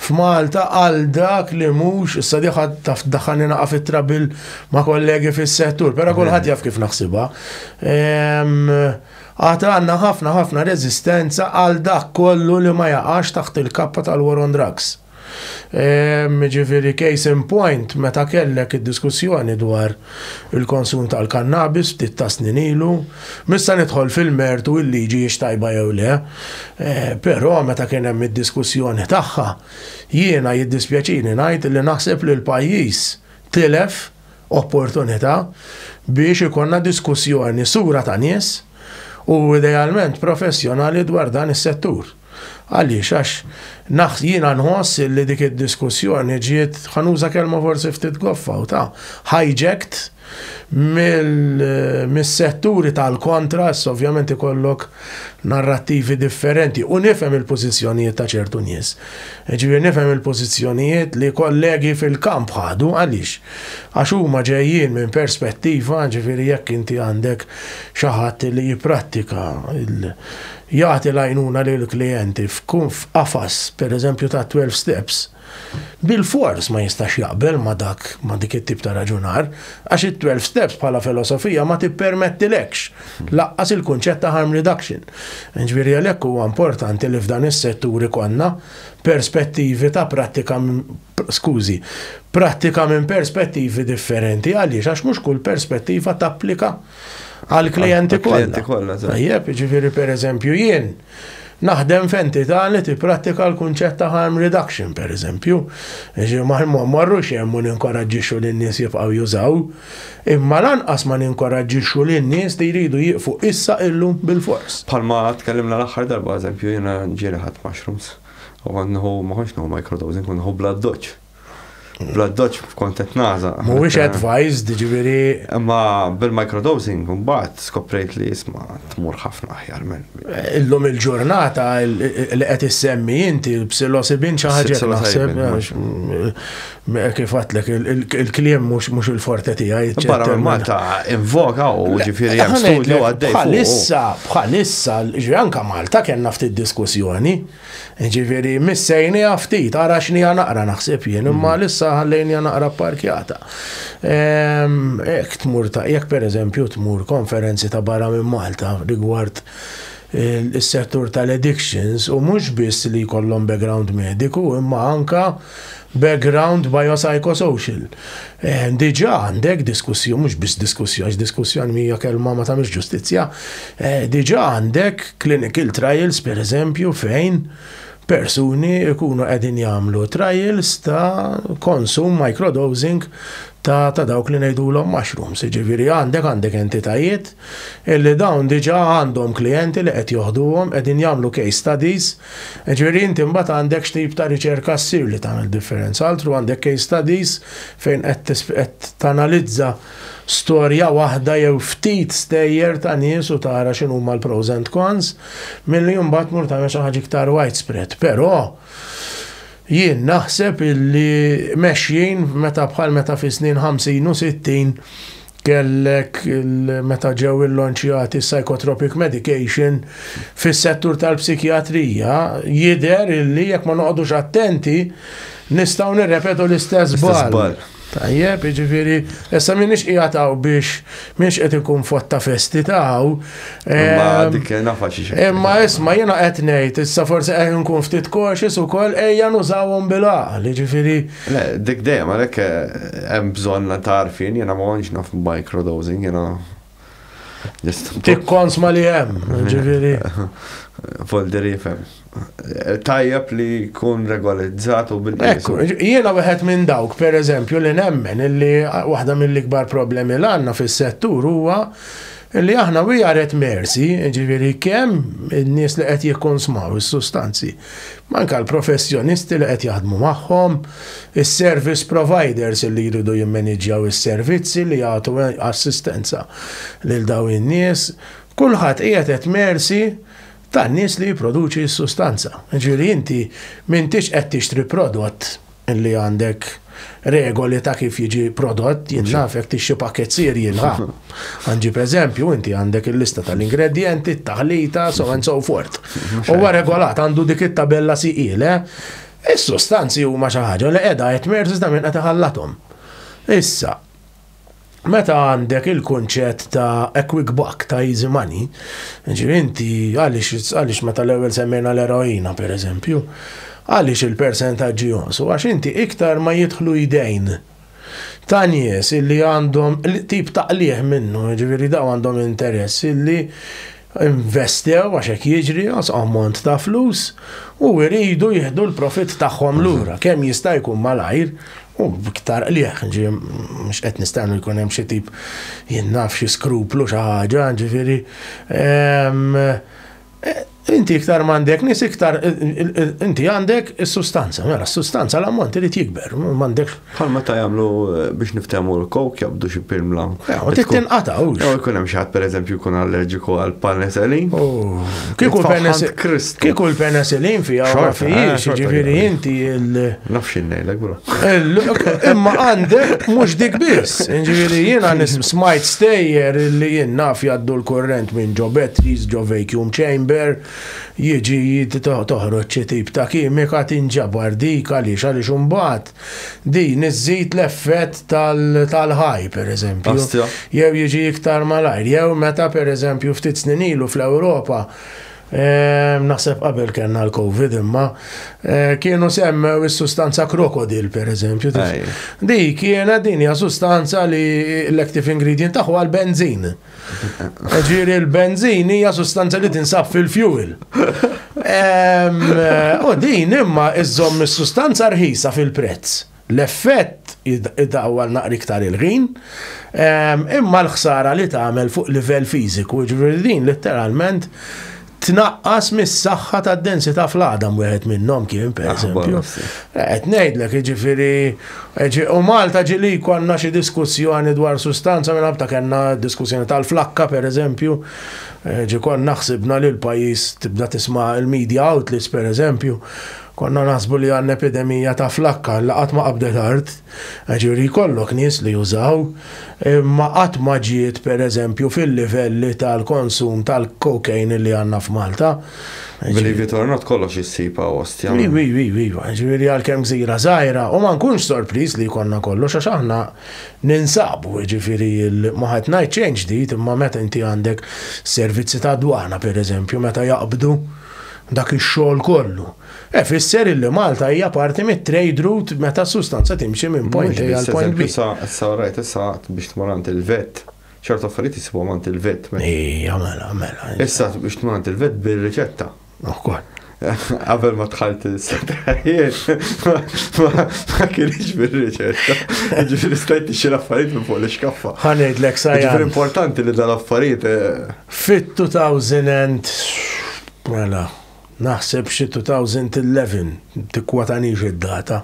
f'Malta għal dak li mhux, issa diħa taf tdaħħalni naqa' fit-trabil ma' kollegi fis-settur, però kulħadd jaf kif naħsibha. Ehm, għad għandna ħafna ħafna reżistenza għal dak kollu li ma jaqax taħt il-kappa tal-war on drugs. Ehm, ġifieri case in point meta kellek id-diskussjoni dwar il-konsum tal-kannabis ftit ta' snin ilu. Mista nidħol fil-mertu il-liġi hiex tajba jew le, però meta kien hemm id-diskussjoni tagħha, jiena jiddispjaċini ngħid li naħseb li l-pajjiż tilef opportunità biex ikollna diskussjoni sura ta' nies u idealment professjonali dwar dan is-settur. Għaliex? Għax naħs, jiena nħoss li dik id-diskussjoni ġiet, ħa nuża kelma forsi ftit goffa u ta', hijacked mis-setturi tal-kontra, issa ovvjament ikollok narrattivi differenti u nifhem il-pożizzjonijiet ta' ċertu nies. Ġifieri nifhem il-pożizzjonijiet li kollegi fil-kamp ħadu għaliex? Għax huma ġejjin minn perspettiva, ġifieri jekk inti għandek xi ħadd li jipprattika jagħti l-għajnuna lill-klijenti f'qafas, pereżempju, ta' twelve steps, bilfors ma jistax jaqbel ma' dak, ma' dik it-tip ta' raġunar, għax it-twelve steps bħala filosofija ma tippermettilekx lanqas il-kunċett ta' harm reduction. Jiġifieri għalhekk huwa importanti li f'dan is-settur ikollna perspettivi ta' prattika skużi, prattika minn perspettivi differenti. Għaliex, għax mhux kull perspettiva tapplika għal klijenti kollha. Tajjeb, ġifieri pereżempju jien naħdem f'entità li tipprattika l-kunċett ta' harm reduction, per eżempju. Ma marrux hemm u ninkoraġġixxu lin-nies jibqgħu jużaw, imma lanqas ma ninkoraġġixxu lin-nies li jridu jieqfu issa illum bil-fors. Palma tkellimna l-aħħar darba, eżempju, jiena ġieli ħadd mushrooms. U kont nħu, ma konx nħu microdosing, kont nħu blood dodge. Blood dodge kont qed naza. Mhuwiex eh, advised, ġifieri. Ma bil-microdosing mbagħad skoprejt li isma' tmur ħafna aħjar minn. Eh, illum il-ġurnata li qed issemmi inti l-psilosibin xi ħaġa naħseb eh, Kif għatlek, il-kliem mhux il-forte tiegħi. Barra Malta invoka u ġifieri hemm studju għaddej. Bħalissa, bħalissa, anka Malta kellna ftit diskussjoni. Ġifieri missejni ftit, ara x'nija naqra naħseb jien, imma mm. lissa ħallejni naqra parkjata. Ehm, jekk tmur ta' jekk pereżempju tmur konferenzi ta' barra minn Malta rigward il-settur tal-addictions u mhux biss li jkollhom background mediku imma anka Background biopsychosocial. Diġà għandek diskussjoni, mhux biss diskussjoni, għax diskussjoni hija kelma ma tagħmilx ġustizzja. Diġà għandek clinical trials pereżempju fejn persuni jkunu qegħdin jagħmlu trials ta' konsum microdosing ta' ta' dawk li ngħidulhom mushrooms. Ġifieri għandek għandek entitajiet illi dawn diġà għandhom klijenti li qed joħduhom qegħdin jagħmlu case studies Jiġifieri inti mbagħad għandek x'tip ta' riċerka ssir li tagħmel differenza. Altru għandek case studies fejn qed tanalizza storja waħda jew ftit stejjer ta' nies u tara x'inhuma l-pros and cons, milli mbagħad tmur tagħmel xi ħaġa iktar widespread. Però jien naħseb illi mexjin meta bħal meta fis-snin 50 u 60 Kellek meta ġew illonċjati psychotropic medication fis-settur tal-psikjatrija jidher illi jekk ma noqogħdux attenti nistgħu nirrepetu l-istess bal. Tajjeb, jiġifieri, issa minix qiegħed hawn biex minix qed ikun fotta festi taw. Imma dik nafa xi Imma isma' jiena qed ngħid, issa forsi qed nkun ftit koxis ukoll ejja nużawhom bil-għaqli, jiġifieri Le, dik dejjem, għalhekk hemm bżonn ta' għarfien, jiena ma kontx naf microdosing, jiena just. Tikkonsma li hemm, ġifieri. Folder jifhem. Tajjeb li jkun regolizzat u bil-qies. Ekku, jiena wieħed minn dawk, pereżempju, li nemmen li waħda mill-ikbar problemi li għandna fis-settur huwa li aħna we are at mercy, ġifieri kemm in-nies li qed jikkonsmaw is-sustanzi Ma anke l-professjonisti li qed jaħdmu magħhom, is-service providers li jridu jimmaniġġjaw is-servizzi li jagħtu assistenza lil dawn in-nies, kulħadd qiegħed at mercy tan-nies li jipproduċi s-sustanza. Jiġifieri inti m'intix qed tixtri prodott. li għandek regoli ta' kif jiġi prodott, jien naf jekk tixxi pakket sir jilħa. Għanġi eżempju, inti għandek il-lista tal-ingredienti, t-taħlita, so and so forth. Huwa regolat għandu dik it-tabella siqil, eh? Is-sustanzi huma xi ħaġa li qiegħda qed merz iżda minn qed iħallathom. Issa, Meta għandek il-kunċett ta' a quick buck, ta' easy money, ġifieri inti għaliex meta l-ewwel semmejna l-eroina pereżempju, għaliex il-persentaġġi jonqsu? Għax inti iktar ma jidħlu jdejn ta' nies illi għandhom tip ta' qligħ minnu, jiġifieri dawn għandhom interess illi investew għax hekk jiġri, għax ammont ta' flus, u jridu jieħdu l-profitt tagħhom lura kemm jista' jkun malajr u b'iktar qligħ, ġifieri mhux qed nistennu jkun hemm xi tip jien naf xi skruplu xi ħaġa, ġifieri inti iktar m'għandek nies iktar inti għandek is-sustanza, mela s-sustanza l-ammont irid jikber, m'għandekx Bħal meta jagħmlu eh, biex niftehmu l-kowk jabdu xi pirmla. U trid tinqata' hux. Jew ikun hemm xi ħadd pereżempju jkun allerġiku għal penicillin. Kieku l-penicillin. Kieku l-penicillin fiha ma fihiex, eh, ġifieri inti il. Nafx ngħidlek bro. Imma għandek mhux dik biss. Ġifieri jiena smajt stejjer li jien naf jgħaddu l-kurrent minn ġo batteries, ġo vacuum chamber, jiġi toħroġ xi tip ta' kimika tinġabar dik għaliex għaliex imbagħad Din iżżid l-effett tal-ħaj, pereżempju. Jew jiġi iktar malajr, jew meta pereżempju ftit snin ilu fl-Ewropa ehm, naħseb qabel kellna l-Covid imma eh, kienu semmew is-sustanza krokodil pereżempju. Di kienet din hija sustanza li l-active ingredient tagħha l-benzin. Ġiri l-benzin hija sustanza li tinsab fil-fuel. U din imma iżżomm is-sustanza rħisa fil-prezz. L-effett id-dawwal naqri iktar il-ħin, imma l-ħsara li tagħmel fuq livell fiżiku, ġifieri din letteralment tnaqqas mis-saħħa tad-densità fl-għadam wieħed minnhom kien pereżempju. Qed ngħidlek jiġifieri u Malta ġili konna xi diskussjoni dwar sustanza minn ħabta kellna diskussjoni tal-flakka pereżempju. Eh, ġi kon naħsibna li l-pajjiż tibda tisma' il-media outlets pereżempju. Konna naħsbu li għandna epidemija ta' flakka li qatt ma qabdet art. Għax juri jkollok nies li jużaw, imma qatt ma ġiet pereżempju fil-livelli tal-konsum tal-cocaine li għandna f'Malta. Believe it or not, kollox issib hawn ostja. Iva, iva, iva, iva. Ġifieri għalkemm gżira żgħira, u ma nkunx sorpriż li jkollna kollox għax aħna ninsabu, jiġifieri ma qed ngħid xejn ġdid, imma meta inti għandek servizzi tad-dwana pereżempju meta jaqbdu dak ix-xogħol kollu, Hekk ifisser illi Malta hija parti mit-trade route meta s-sustanza timxi minn point A għal point B. Issa, issa rajt issa biex tmur għand il-vet, ċertu affarijiet isibhom għand il-vet. Ija, mela, mela. Issa biex tmur għand il-vet bir-riċetta. Ukoll. Qabel ma tħalt il-setajiet, ma kienx bir-riċetta. Ġifiri stajt ixi l-affarijiet minn fuq l-iskaffa. Ħanejt l-ek sajja. Ġifiri importanti li dal-affarijiet. Fit-2000 and. Mela. naħseb xi 2011, tikkwatanix id-data.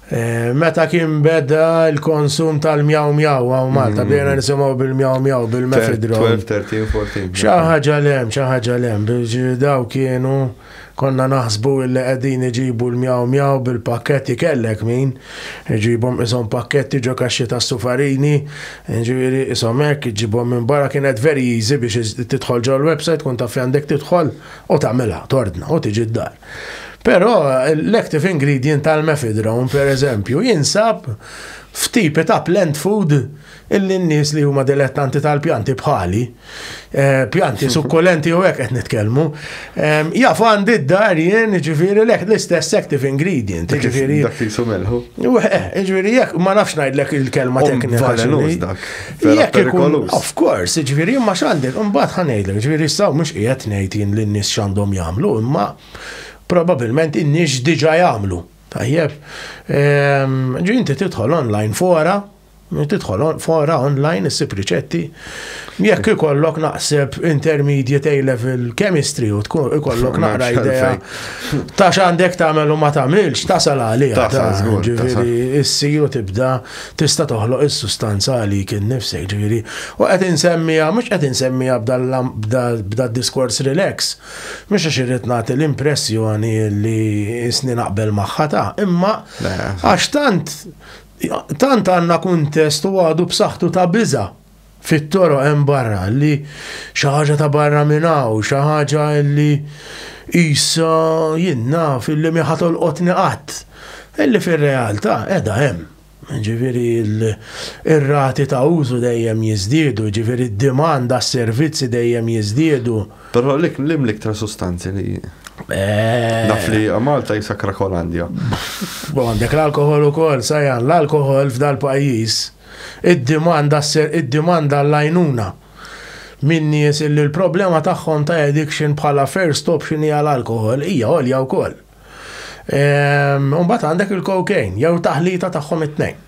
Eh, meta kien beda il-konsum tal-mjaw mjaw għaw Malta, mm. bdejna nisimaw bil-mjaw mjaw, bil-mefidron. 12, 13, 14. ċaħġa lem, ċaħġa lem, biex daw kienu konna naħsbu illi qegħdin iġibu l-mjaw mjaw bil-pakketti kellek min, iġibhom isom pakketti ġo kaxxi ta' sufarini, ġifieri isom hekk iġibhom minn barra kienet very easy biex tidħol ġol website kun taf għandek tidħol. u tagħmilha tordna u tiġi d-dar. Però l-active ingredient tal-mefidron, per eżempju, jinsab f'tipi ta' plant food illi n-nies li huma dilettanti tal-pjanti bħali, eh, pjanti sukkulenti u hekk qed nitkellmu, eh, jaf għandi d-dar jien ġifieri l-istess active ingredient, ġifieri. Dak li sumelħu. Eh, ġifieri jekk ma nafx ngħidlek il-kelma teknika. Vera perikolus. Of course, ġviri, ma xandi, mbaħt ħanejlek, ġviri, saw mux qiegħed ngħid jien li n-nis xandom jagħmlu, imma probabilment in-nis diġa jagħmlu. Tajjeb, ehm, ġi inti tidħol online fora, tidħol fora online issib riċetti. Jekk ikollok naqseb intermediate A-level chemistry u tkun ikollok naqra idea ta' x'għandek tagħmel u ma tagħmilx tasal għalih. Tasal żgur. Ġifieri issir u tibda Tista' toħloq is-sustanza għalik innifsek, ġifieri, u qed insemmiha, mhux qed insemmiha b'dad-diskors relax, mhux għax irrid nagħti l-impressjoni li isni naqbel magħha ta', imma għax tant tant għandna kuntest u għadu b'saħħtu ta' biża' fit-toroq hemm barra li xi ħaġa ta' barra minn hawn, xi ħaġa li qisha jien naf illi mi ħa tolqotni qatt, illi fir-realtà qiegħda hemm. Ġifieri r-rati ta' użu dejjem jiżdiedu, ġifieri d-demand għas-servizzi dejjem jiżdiedu. Però lik li l-iktar sustanzi li naf li Malta hi Sakrakolandja. Għandek l-alkoħol ukoll, Sajan, l-alkoħol f'dal-pajjiż. id-dimanda sser id-dimanda għall-għajnuna minn nies illi l-problema tagħhom ta' addiction bħala first option hija l-alkoħol hija għolja wkoll. Ehm, u mbagħad għandek il-cocaine jew taħlita tagħhom it-tnejn.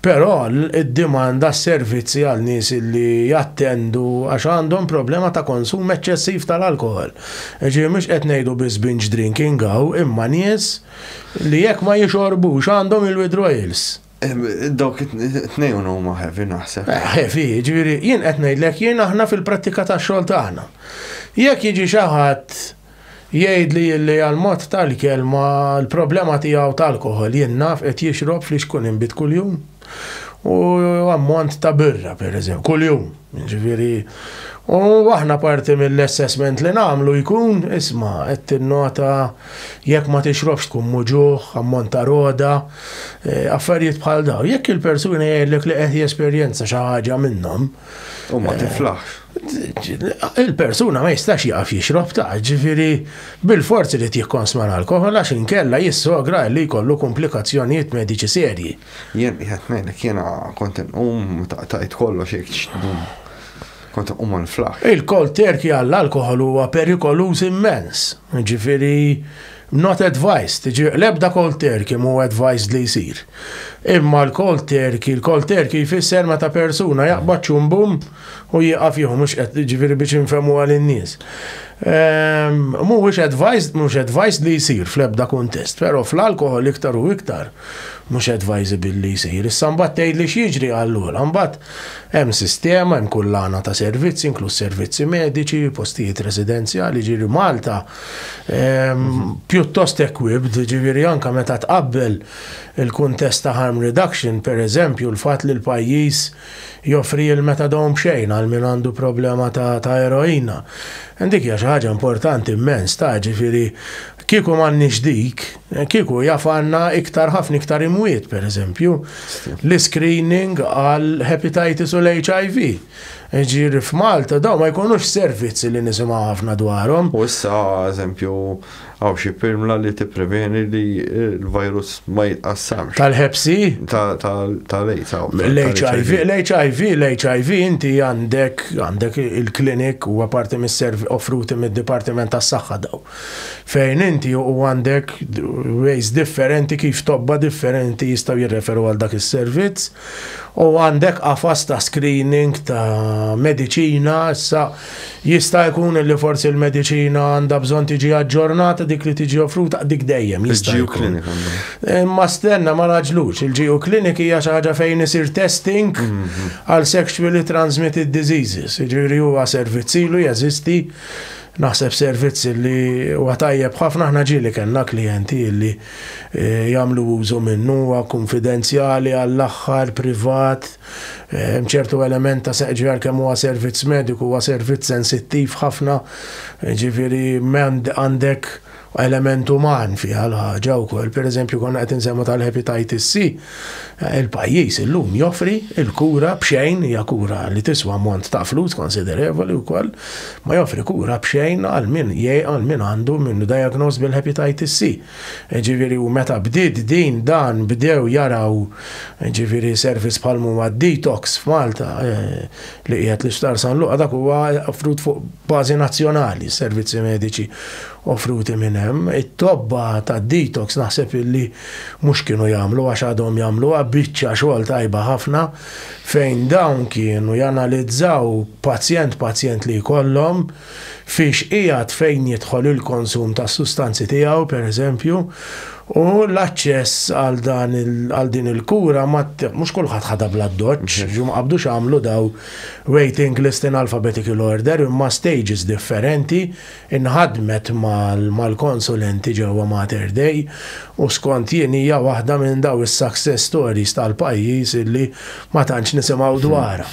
Però id-dimanda s-servizzi għal nies li jattendu għax għandhom problema ta' konsum eċċessiv tal-alkohol. Ġi mhux qed ngħidu biss binge drinking għaw imma nies li jekk ma jixorbux għandhom il-withdrawals. Dawk it-tnejn huma heavy naħseb. Eh, heavy, jiġifieri jien qed ngħidlek jien aħna fil-prattika tax-xogħol tagħna. Jekk jiġi xi ħadd jgħid li li għal-mod tal-kelma l-problema tiegħu tal-alkohol jien naf qed jixrob fli xkun inbit kuljum. U ammont ta' birra, per eżempju, kuljum. Ġifieri, u aħna parti mill-assessment li nagħmlu jkun, isma, qed tinnota Jekk ma tixrobx tkun muġugħ, ammont ta' roda, affarijiet bħal dawn. Jekk il-persuna jgħidlek li qed jesperjenza xi ħaġa minnhom. U ma tiflaħx. Il-persuna ma jistax jaf jixrob ta' ġifieri bil-forzi li tikkonsma l-alkohol għax inkella jissogra li jkollu komplikazzjonijiet mediċi serji. Jien qiegħed ngħidlek jiena kont inqum meta qtajt kollox jekk Kont nqum għal flaħ. Il-koll terki għall-alkohol huwa perikoluż immens. Ġifiri, not advised, ġifiri, lebda koll terki mu advised li jisir. Imma l-koll terki, l-koll terki jfisser meta persuna jaqbad ċumbum u jieqaf jieħu, mux ġifiri biex infemu għal in-nies. Ehm, Mhuwiex advised, mhux advised li jsir fl-ebda kuntest, però fl-alkohol iktar u iktar mhux advisable li jsir. Issa mbagħad tgħidli x'jiġri għall-għola, mbagħad Hemm sistema, hemm kullana ta' servizzi, inkluż servizzi mediċi, postijiet residenzjali, ġiri Malta pjuttost equipped, ġifieri anke meta tqabbel il-kuntest ta' harm reduction, pereżempju, l-fatt li l-pajjiż joffri l-methadone b'xejn għal min għandu problema ta' eroina. Dik hija xi ħaġa importanti mmens, ta', ġifieri Kieku m'għandniex dik, kieku jaf għandna iktar ħafna iktar imwiet, per eżempju, l-screening għal hepatitis u l-HIV. Ġiri f'Malta, daw ma jkunux servizzi li nisimaw ħafna dwarhom. U issa, eżempju, għaw xi pilmla li tippreveni li l-virus ma jitqassamx. Tal-ħepsi? Tal-AIDS. L-HIV, l-HIV, l-HIV inti għandek għandek il-klinik u għaparti mis-servi offruti mid-Dipartiment tas-Saħħa daw. Fejn inti u għandek ways differenti kif tobba differenti jistgħu jirreferu għal dak is-servizz u għandek qafas ta' screening ta' mediċina issa jista' jkun li forsi l-mediċina għandha bżonn tiġi aġġornata dik li tiġi offruta dik dejjem jista' jkun. Imma stenna ma naġlux, il-GU Clinic hija xi ħaġa fejn isir testing mhm. għal sexually transmitted diseases, jiġifieri huwa servizzilu jeżisti Naħseb servizz li huwa tajjeb ħafna, aħna ġieli kellna klijenti li jagħmlu użu minnu, huwa kunfidenzjali għall-aħħar, privat, hemm ċertu element ta' jiġifieri għalkemm huwa servizz mediku huwa servizz sensittiv ħafna, jiġifieri għandek element uman fiha l-ħaġa wkoll. Pereżempju konna qed insemmu tal-hepatitis C, il-pajjiż illum joffri il-kura b'xejn hija kura li tiswa ammont ta' flus konsiderevoli wkoll, ma joffri kura b'xejn għal min għal min għandu minnu diagnosed bil-hepatitis C. Ġifieri u meta bdiet din dan bdew jaraw ġifieri servizz bħal huma d-detox f'Malta li qiegħed l-Isptar San Luqa dak huwa offrut fuq bażi nazzjonali s-servizzi mediċi offruti minn hemm. It-tobba tad-detox naħseb illi mhux kienu jagħmlu għax għadhom jagħmluha biċċa xogħol tajba ħafna fejn dawn kienu janalizzaw pazjent pazjent li jkollhom fiex qiegħed fejn jidħol il-konsum tas-sustanzi tiegħu, pereżempju, u l-aċċess għal dan għal din il-kura ma mhux kulħadd ħadha bl-addoċċ, ġu ma qabdux għamlu daw waiting list in alphabetical order imma stages differenti nħadmet mal-konsulenti ġewwa Mater Dei u skont jien hija waħda minn daw is-success stories tal-pajjiż illi ma tantx nisimgħu dwarha.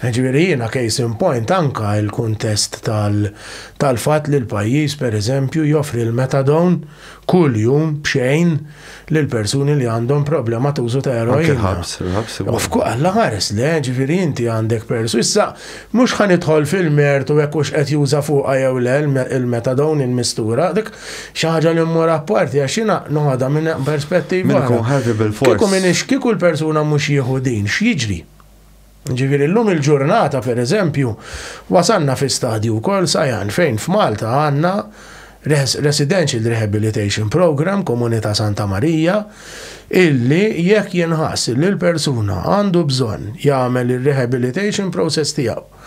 Ġifieri jiena case in point anka il-kuntest tal-fatt li l-pajjiż pereżempju joffri l-metadon kull jum b'xejn lil persuni li għandhom problema ta' użu ta' eroin. Of alla ħares le, ġifieri inti għandek persu. Issa mhux ħanidħol fil-mertu hekk hux qed juża fuqha jew le il-metadon il-mistura dik xaħġa li mmur apparti, għax jina noħodha minn perspettiva. Minn kun ħavi bil-fors. Kiku minix, kiku l-persuna mux jieħu din, x'jiġri? Ġifiri, l-lum il-ġurnata, per eżempju, wasanna fi stadju kol sajan fejn f'Malta għanna Residential Rehabilitation Program, Komunità Santa Marija, illi jekk jenħas li l-persuna għandu bżonn jagħmel ir-rehabilitation process tiegħu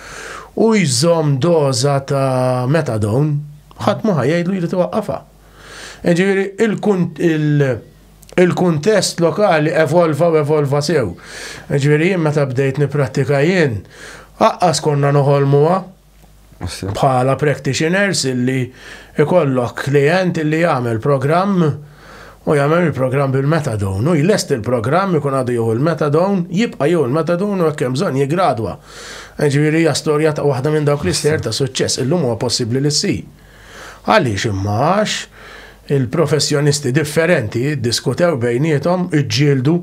u jżomm doża ta' metadon, Ħadd mhu ħa jgħidlu jrid iwaqqafha. Jiġifieri il-kuntest lokali evolva u evolva sew. Jiġifieri jien meta bdejt nipprattika jien, aqqas konna noħolmuha bħala practitioners illi ikollok klijent illi jagħmel programm, u jagħmel il-programm bil-metadone, u jlesti l-programm ikun għadu jieħu l-metadone, jibqa' jieħu l-metadone u jekk hemm bżonn jiggradwa. Jiġifieri hija storja ta' waħda minn dawk l-ister ta' suċċess illum huwa possibbli li ssir. Għaliex imma għax il-professjonisti differenti ddiskutew bejniethom, iġġieldu,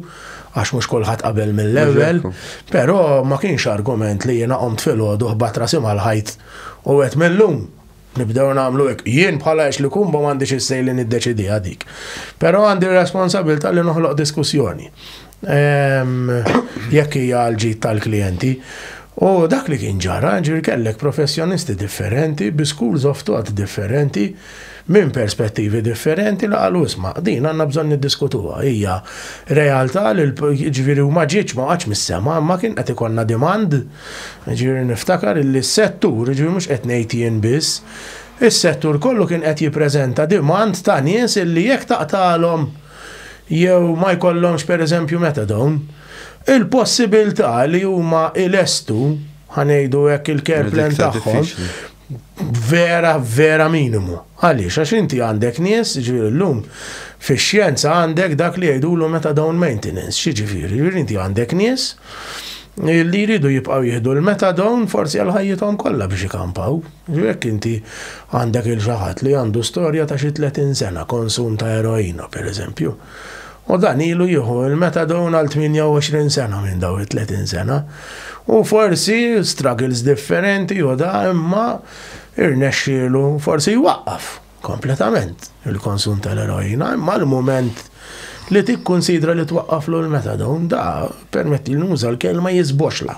għax mhux kulħadd qabel mill-ewwel, però ma kienx argument li jiena qomt filgħodu ħbat rasi mal-ħajt u qed millum Nibdew nagħmlu hekk. Jien bħala ex li kumba m'għandix is-sej li niddeċidiha dik. Però għandi r-responsabilità li noħloq diskussjoni. Ehm, jekk hija l-ġid tal-klijenti. U dak li kien ġara, ġir kellek professjonisti differenti, bi schools of thought differenti, minn perspettivi differenti li qalu isma, din għanna bżon niddiskutuha. Hija realtà li ġviri u maġiċ ma għax mis-sema, ma kien qed ikonna demand Jiġifieri niftakar illi s-settur, jiġifieri mhux qed ngħid jien biss, is-settur kollu kien qed jippreżenta demand ta' nies illi jekk taqtagħlhom jew ma jkollhomx pereżempju methadone, il-possibilità li huma jlestu, ħa ngħidu hekk il-care plan tagħhom, vera, vera minimu. Għaliex, għax inti għandek nies, ġviri l-lum, fi xjenza għandek dak li jgħidulu meta down maintenance, xi ġviri, ġviri inti għandek nies li jridu jibqaw jihdu l-meta down forsi għal ħajjithom kollha biex ikampaw. Jekk inti għandek il-ġaħat li għandu storja ta' xi 30 sena konsum ta' eroina, per eżempju. U dan ilu jieħu il-metadone għal 28 sena minn daw it-30 sena. U forsi struggles differenti u da imma irnexxielu forsi jwaqqaf kompletament il-konsum tal-eroina, imma l-mument li tikkunsidra li twaqqaflu l-metadon da permetti li nuża l-kelma jizboxla.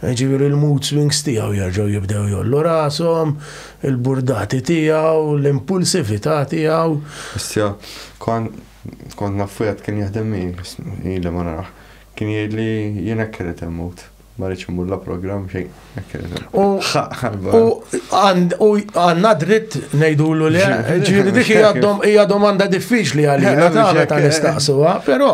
Ġiviri l-mood swings tiegħu jerġgħu jibdew jollu rashom, il-burdati tiegħu, l-impulsività tiegħu. Issa, kon Kont naf f'wieħed kien jaħdem miegħi, ili ma narah. Kien jgħidli jien hekk irrid immut. Ma rridx immur la programm xejn, hekk irrid immut. U għandna dritt ngħidulu le, ġifieri dik hija domanda diffiċli għalina ta' meta nistaqsuha, però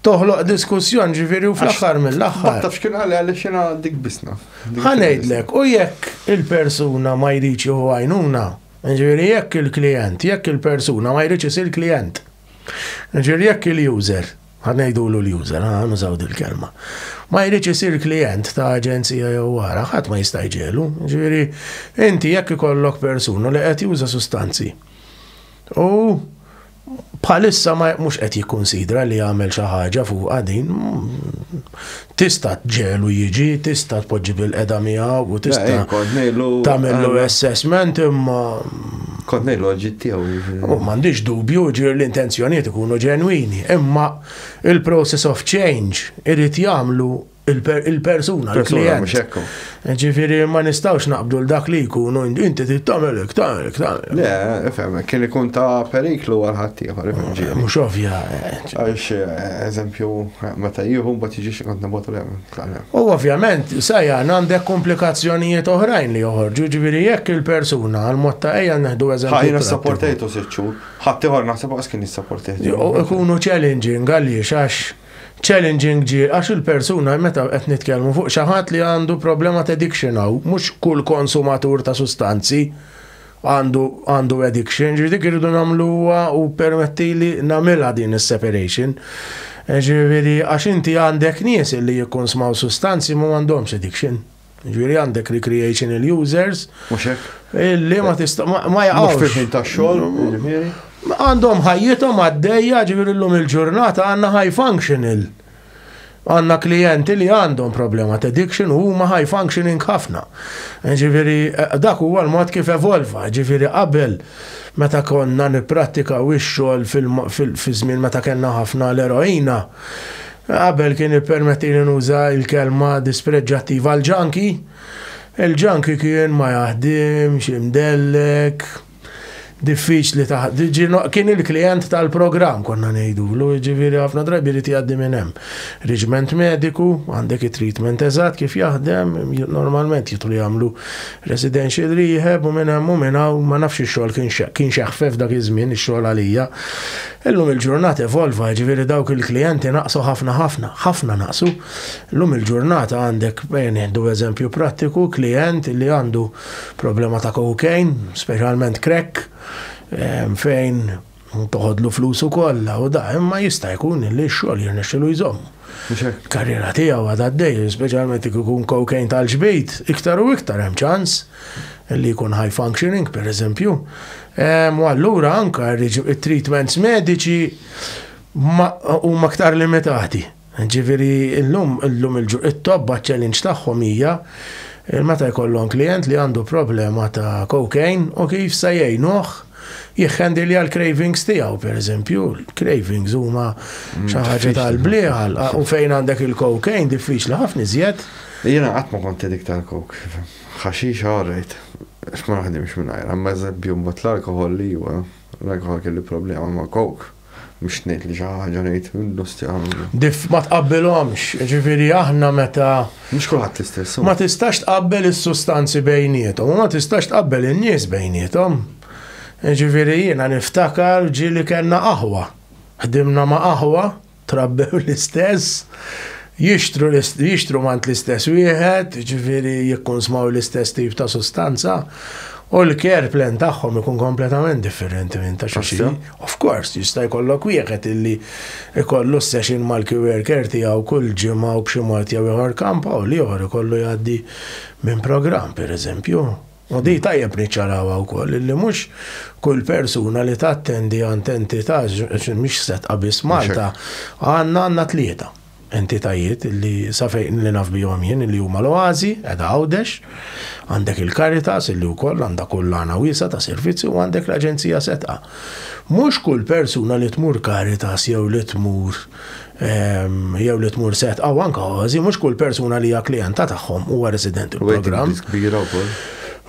toħloq diskussjon ġifiri u fl-axħar mill-axħar. Taf xkien għalli għalli xina dik bisna. Għanejdlek, u jekk il-persuna ma jriċi u għajnuna, Ġifieri jekk il-klijent, jekk il-persuna ma jridx isir klijent. Ġifieri jekk il-user, ħa ngħidulu l-user, ħa nużaw dil-kelma, ma jridx isir klijent ta' aġenzija jew wara, ħadd ma jista' jġegħlu. Ġifieri inti jekk ikollok persuna li qed juża sustanzi u bħalissa mhux qed jikkunsidra li jagħmel xi ħaġa fuqha din tista' tġelu jiġi, tista' tpoġġi bil-qeda miegħu u tista' tagħmlu assessment imma Kont ngħid loġit tiegħu. U m'għandix dubju ġir l-intenzjonijiet ikunu ġenwini, imma il-process of change irid jagħmlu il-persuna, il-persuna, mux ekku. Ġifiri, ma nistawx naqbdu l-dak li jkunu, inti tittamel, iktar, iktar. Le, fem, kien ikun ta' periklu għal-ħatti, għal-ġiri. Mux ovvja. Għax, eżempju, meta jihu, bat jiġi xikont nabotu l U ovvjament, sajjan għandek komplikazzjonijiet oħrajn li joħorġu, ġifiri, jekk il-persuna, għal-mod ta' eja neħdu eżempju. Għajna s-sapportajtu s-sitxu, ħatti għor naħseb għas kien s-sapportajtu. Ikunu challenging, għalli, xax. Challenging ġie għax il-persuna, meta qed nitkellmu fuq xi ħadd li għandu problema t'addiction hawn, mhux kull konsumatur ta' sustanzi għandu għandu addiction, ġifieri dik irridu nagħmluha u ppermettili nagħmilha din is-separation. Ġifieri għax inti għandek nies li jikkonsmaw sustanzi ma m'għandhomx addiction. Ġviri għandek recreational users. Muxek. Illi ma tista' ma jaqgħux. Fil-ħin ta' xogħol, ġviri. Għandhom ħajjithom għaddejja ġviri l-lum il-ġurnata għandna high functional. Għandna klijenti li għandhom problema ta' addiction u huma high functioning ħafna. Ġviri, eh, dak huwa l-mod kif evolva, ġviri qabel meta konna nipprattika u x-xogħol fil-żmien meta kellna ħafna l-eroina Qabel kien ippermettili nuża l-kelma dispreġġattiva għal ġanki. Il-ġanki kien ma jaħdimx, imdellek, diffiċli taħt. Kien il-klijent tal-programm konna ngħidulu, jiġifieri ħafna drabi jrid jgħaddi minn hemm. Riġment mediku, għandek it-treatment eżatt kif jaħdem, normalment jidħlu jagħmlu residential rehab u minn hemm u minn hawn ma nafx ix-xogħol kien x'eħfef dak iż-żmien ix-xogħol għalija. Illum il-ġurnata evolva, ġifieri dawk il-klijenti naqsu ħafna ħafna, ħafna naqsu. Illum il-ġurnata għandek, eh, nieħdu eżempju prattiku, klijent li għandu problema ta' cocaine, speċjalment crack, eh, fejn toħodlu flusu kollha u da, imma jista' jkun li x-xogħol jirnexxilu jżomm. karriera tiegħu għad għaddej, speċjalment jekk ikun cocaine tal-ġbid, iktar u iktar hemm ċans li jkun high functioning per eżempju. U allura anka treatments mediċi huma aktar limitati. Ġifieri illum illum il-tobba challenge tagħhom hija meta jkollhom klient li għandu problema ta' cocaine u kif se jgħinuh jikhandilja l-cravings tiegħu, per eżempju, l-cravings huma mm, xi ħaġa tal-blieħal u fejn għandek il-cocaine diffiċli ħafna iżjed. Jiena qatt ma kont dik tal-kok. Ħaxix ħarrejt, x'ma naħdimx mingħajr, imma eżempju mbagħad l-alkohol li huwa, l-alkohol kelli problema ma' coke. Mhux ngħid li xi ħaġa ngħid minnu stjamlu. Dif ma tqabbilhomx, ġifieri aħna meta. Mhux kulħadd l-istess. Ma tistax tqabbel is-sustanzi bejniethom, u ma tistax tqabbel in-nies bejniethom. Ġifieri jiena niftakar ġieli kellna aħwa. Ħdimna ma' aħwa, trabbew l-istess, jixtru jixtru mant l-istess wieħed, ġifieri jikkunsmaw l-istess tip ta' sustanza. U l-care plan tagħhom ikun kompletament differenti minn ta' xi Of course, jista' jkollok wieħed illi jkollu s-session mal-coworker tiegħu kull ġimgħa u b'xi mod jew ieħor kamp hawn li ieħor ikollu jgħaddi minn programm, pereżempju. U din tajjeb niċċarawha wkoll illi mhux kull persuna li tattendi għand entità, mhix setqa biss Malta, għandna għandna tlieta. Entitajiet li sa fejn li naf bihom jien li huma l-Oażi, qiegħda Għawdex, għandek il-Caritas li wkoll għandha kullana wiesgħa ta' servizzi u għandek l-Aġenzija Setgħa. Mhux kull persuna li tmur Caritas jew li tmur jew li tmur Setgħa u anke Oażi, mhux kull persuna li hija klijenta tagħhom huwa resident il-programm. Kbira wkoll.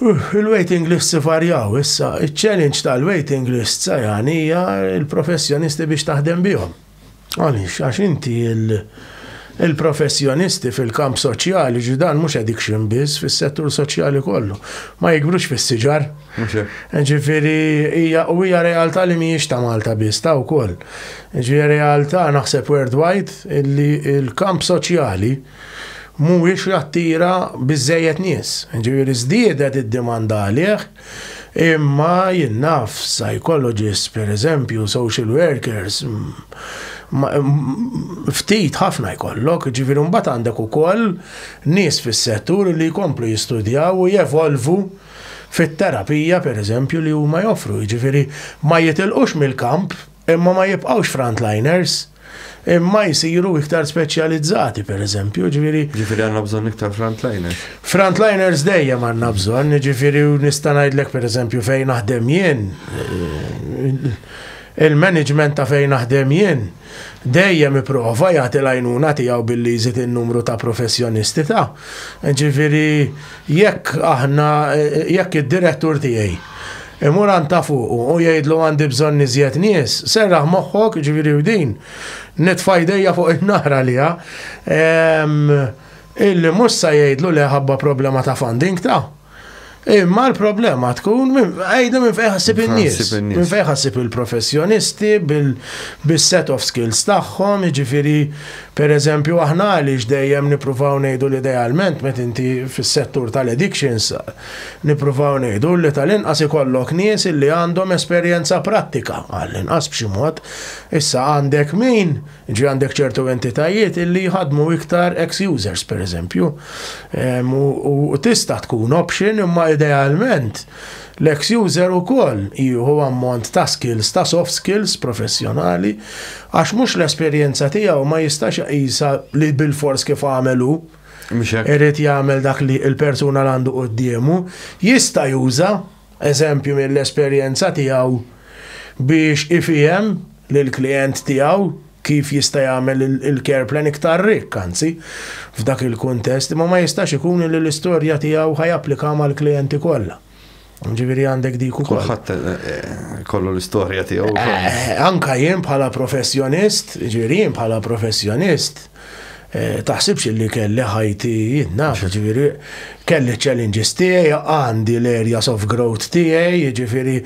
Il-waiting list sifarjaw issa, iċ-challenge tal-waiting list sa jagħni hija l-professjonisti biex taħdem bihom. Għaliex, għax inti il-professjonisti fil-kamp soċjali, ġi dan mhux addiction biss, fis-settur soċjali kollu, ma jikbrux fis-siġar. Ġifieri hija u hija realtà li mhijiex ta' Malta biss, ta' wkoll. Ġi realtà naħseb worldwide illi il-kamp soċjali mhuwiex jattira biżejjed nies. Ġifieri żdiedet id-dimanda għalih Imma jien naf psychologists pereżempju, social workers, ftit ħafna jkollok, ġifieri mbagħad għandek ukoll nies fis-settur li jkomplu jistudjaw u jevolvu fit-terapija pereżempju li huma joffru, jiġifieri ma jitilqux mill-kamp imma ma jibqgħux frontliners. imma jisiru iktar speċjalizzati, per eżempju, ġifiri. Ġifiri għanna bżon iktar frontliners. Frontliners dejjem għanna bżon, ġifiri nistanajdlek per eżempju fejn naħdem jien, il-management ta' fejn naħdem jien, dejjem iprova jagħti l-għajnuna tiegħu billi jżid in-numru ta' professjonisti ta' ġifiri Jekk aħna, jekk id-direttur tiegħi imur għand ta' fuqu u jgħidlu għandi bżonn iżjed nies, serraħ moħħok, ġifieri u din, nitfa' jdejja fuq in-nar għaliha, illi mhux se jgħidlu le ħabba problema ta' funding ta'. Imma l-problema tkun, għajdu minn fejn ħassib in-nies, minn fejn ħassib il-professjonisti, bis-set of skills tagħhom, jiġifieri Per eżempju, aħna għaliex dejjem nippruvaw ngħidu li idealment meta inti fis-settur tal-addictions, nippruvaw ngħidu li tal-inqas ikollok nies li għandhom esperjenza prattika, għall-inqas b'xi mod. Issa għandek min, jiġifieri għandek ċertu entitajiet li jħaddmu iktar ex-users, per eżempju, u tista' tkun option imma idealment, L-eks user ukoll jieħu ammont ta' skills ta' soft skills professjonali għax mhux l-esperjenza tiegħu ma jistax iqisha li bilfors kif għamel hu irid jagħmel dak li l-persuna l-għandu quddiemu. Jista' juża eżempju mill-esperjenza tiegħu biex ifiehem lill-klijent tiegħu kif jista' jagħmel il-care plan iktar rikk anzi f'dak il-kuntest, imma ma jistax ikun li l-istorja tiegħu ħa japplika mal-klijenti kollha. Ġifieri għandek dik ukoll. Kulħadd eh, eh, kollu l-istorja tiegħu. Eh, anka jien bħala professjonist, ġifieri jien bħala professjonist, Taħsibx illi kelli ħajti jien naf, jiġifieri kelli ċ-challenges tiegħi, għandi l-areas of growth tiegħi, jiġifieri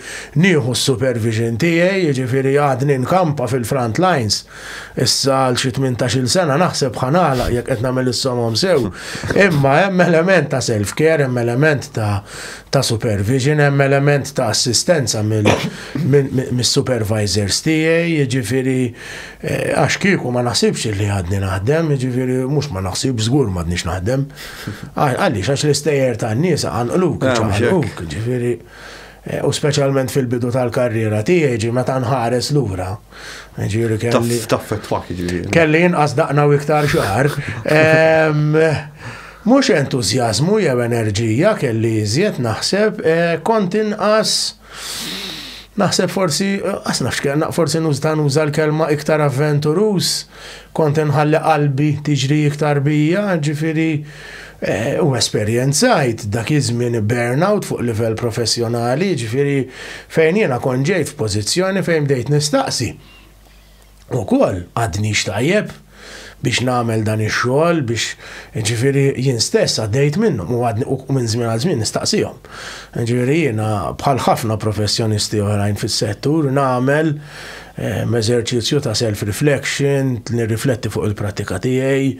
nieħu s-supervision tiegħi, jiġifieri għadni nkampa fil-front lines. Issa għal xi tmintax-il sena naħseb ħa nagħlaq jekk qed nagħmel is-somom sew. Imma hemm element ta' self-care, hemm element ta' supervision, hemm element ta' assistenza mis-supervisors tiegħi, jiġifieri Għax kieku ma naħsibx li għadni naħdem, jiġifieri mhux ma naħsibx, żgur m'għadniex naħdem. Għaliex għax l-istejjer tan-nies għanqluk, ċaqalquk, jiġifieri Eh, u speċjalment fil-bidu tal-karriera tiegħi ġi meta nħares lura. Ġifieri kelli. Taffet fak ġifieri. Kelli inqas daqna u iktar xahar. Mhux entużjażmu jew enerġija kelli iżjed naħseb eh, kont inqas Naħseb forsi, għas nafx kellna, forsi nużta nuża l-kelma iktar avventurus, kont nħalli qalbi tiġri iktar bija, ġifiri, eh, u esperjenzajt dak iż-żmien burnout fuq livell professjonali, ġifiri, fejn jiena konġejt f'pożizzjoni fejn bdejt nistaqsi. ukoll għadnix tajjeb biex nagħmel dan ix-xogħol biex ġifieri jien stess għaddejt minnhom u għadni u minn żmien għal żmien nistaqsihom. Ġifieri jiena bħal ħafna professjonisti oħrajn fis-settur nagħmel ehm, eżerċizzju ta' self-reflection, nirrifletti fuq il-prattika tiegħi,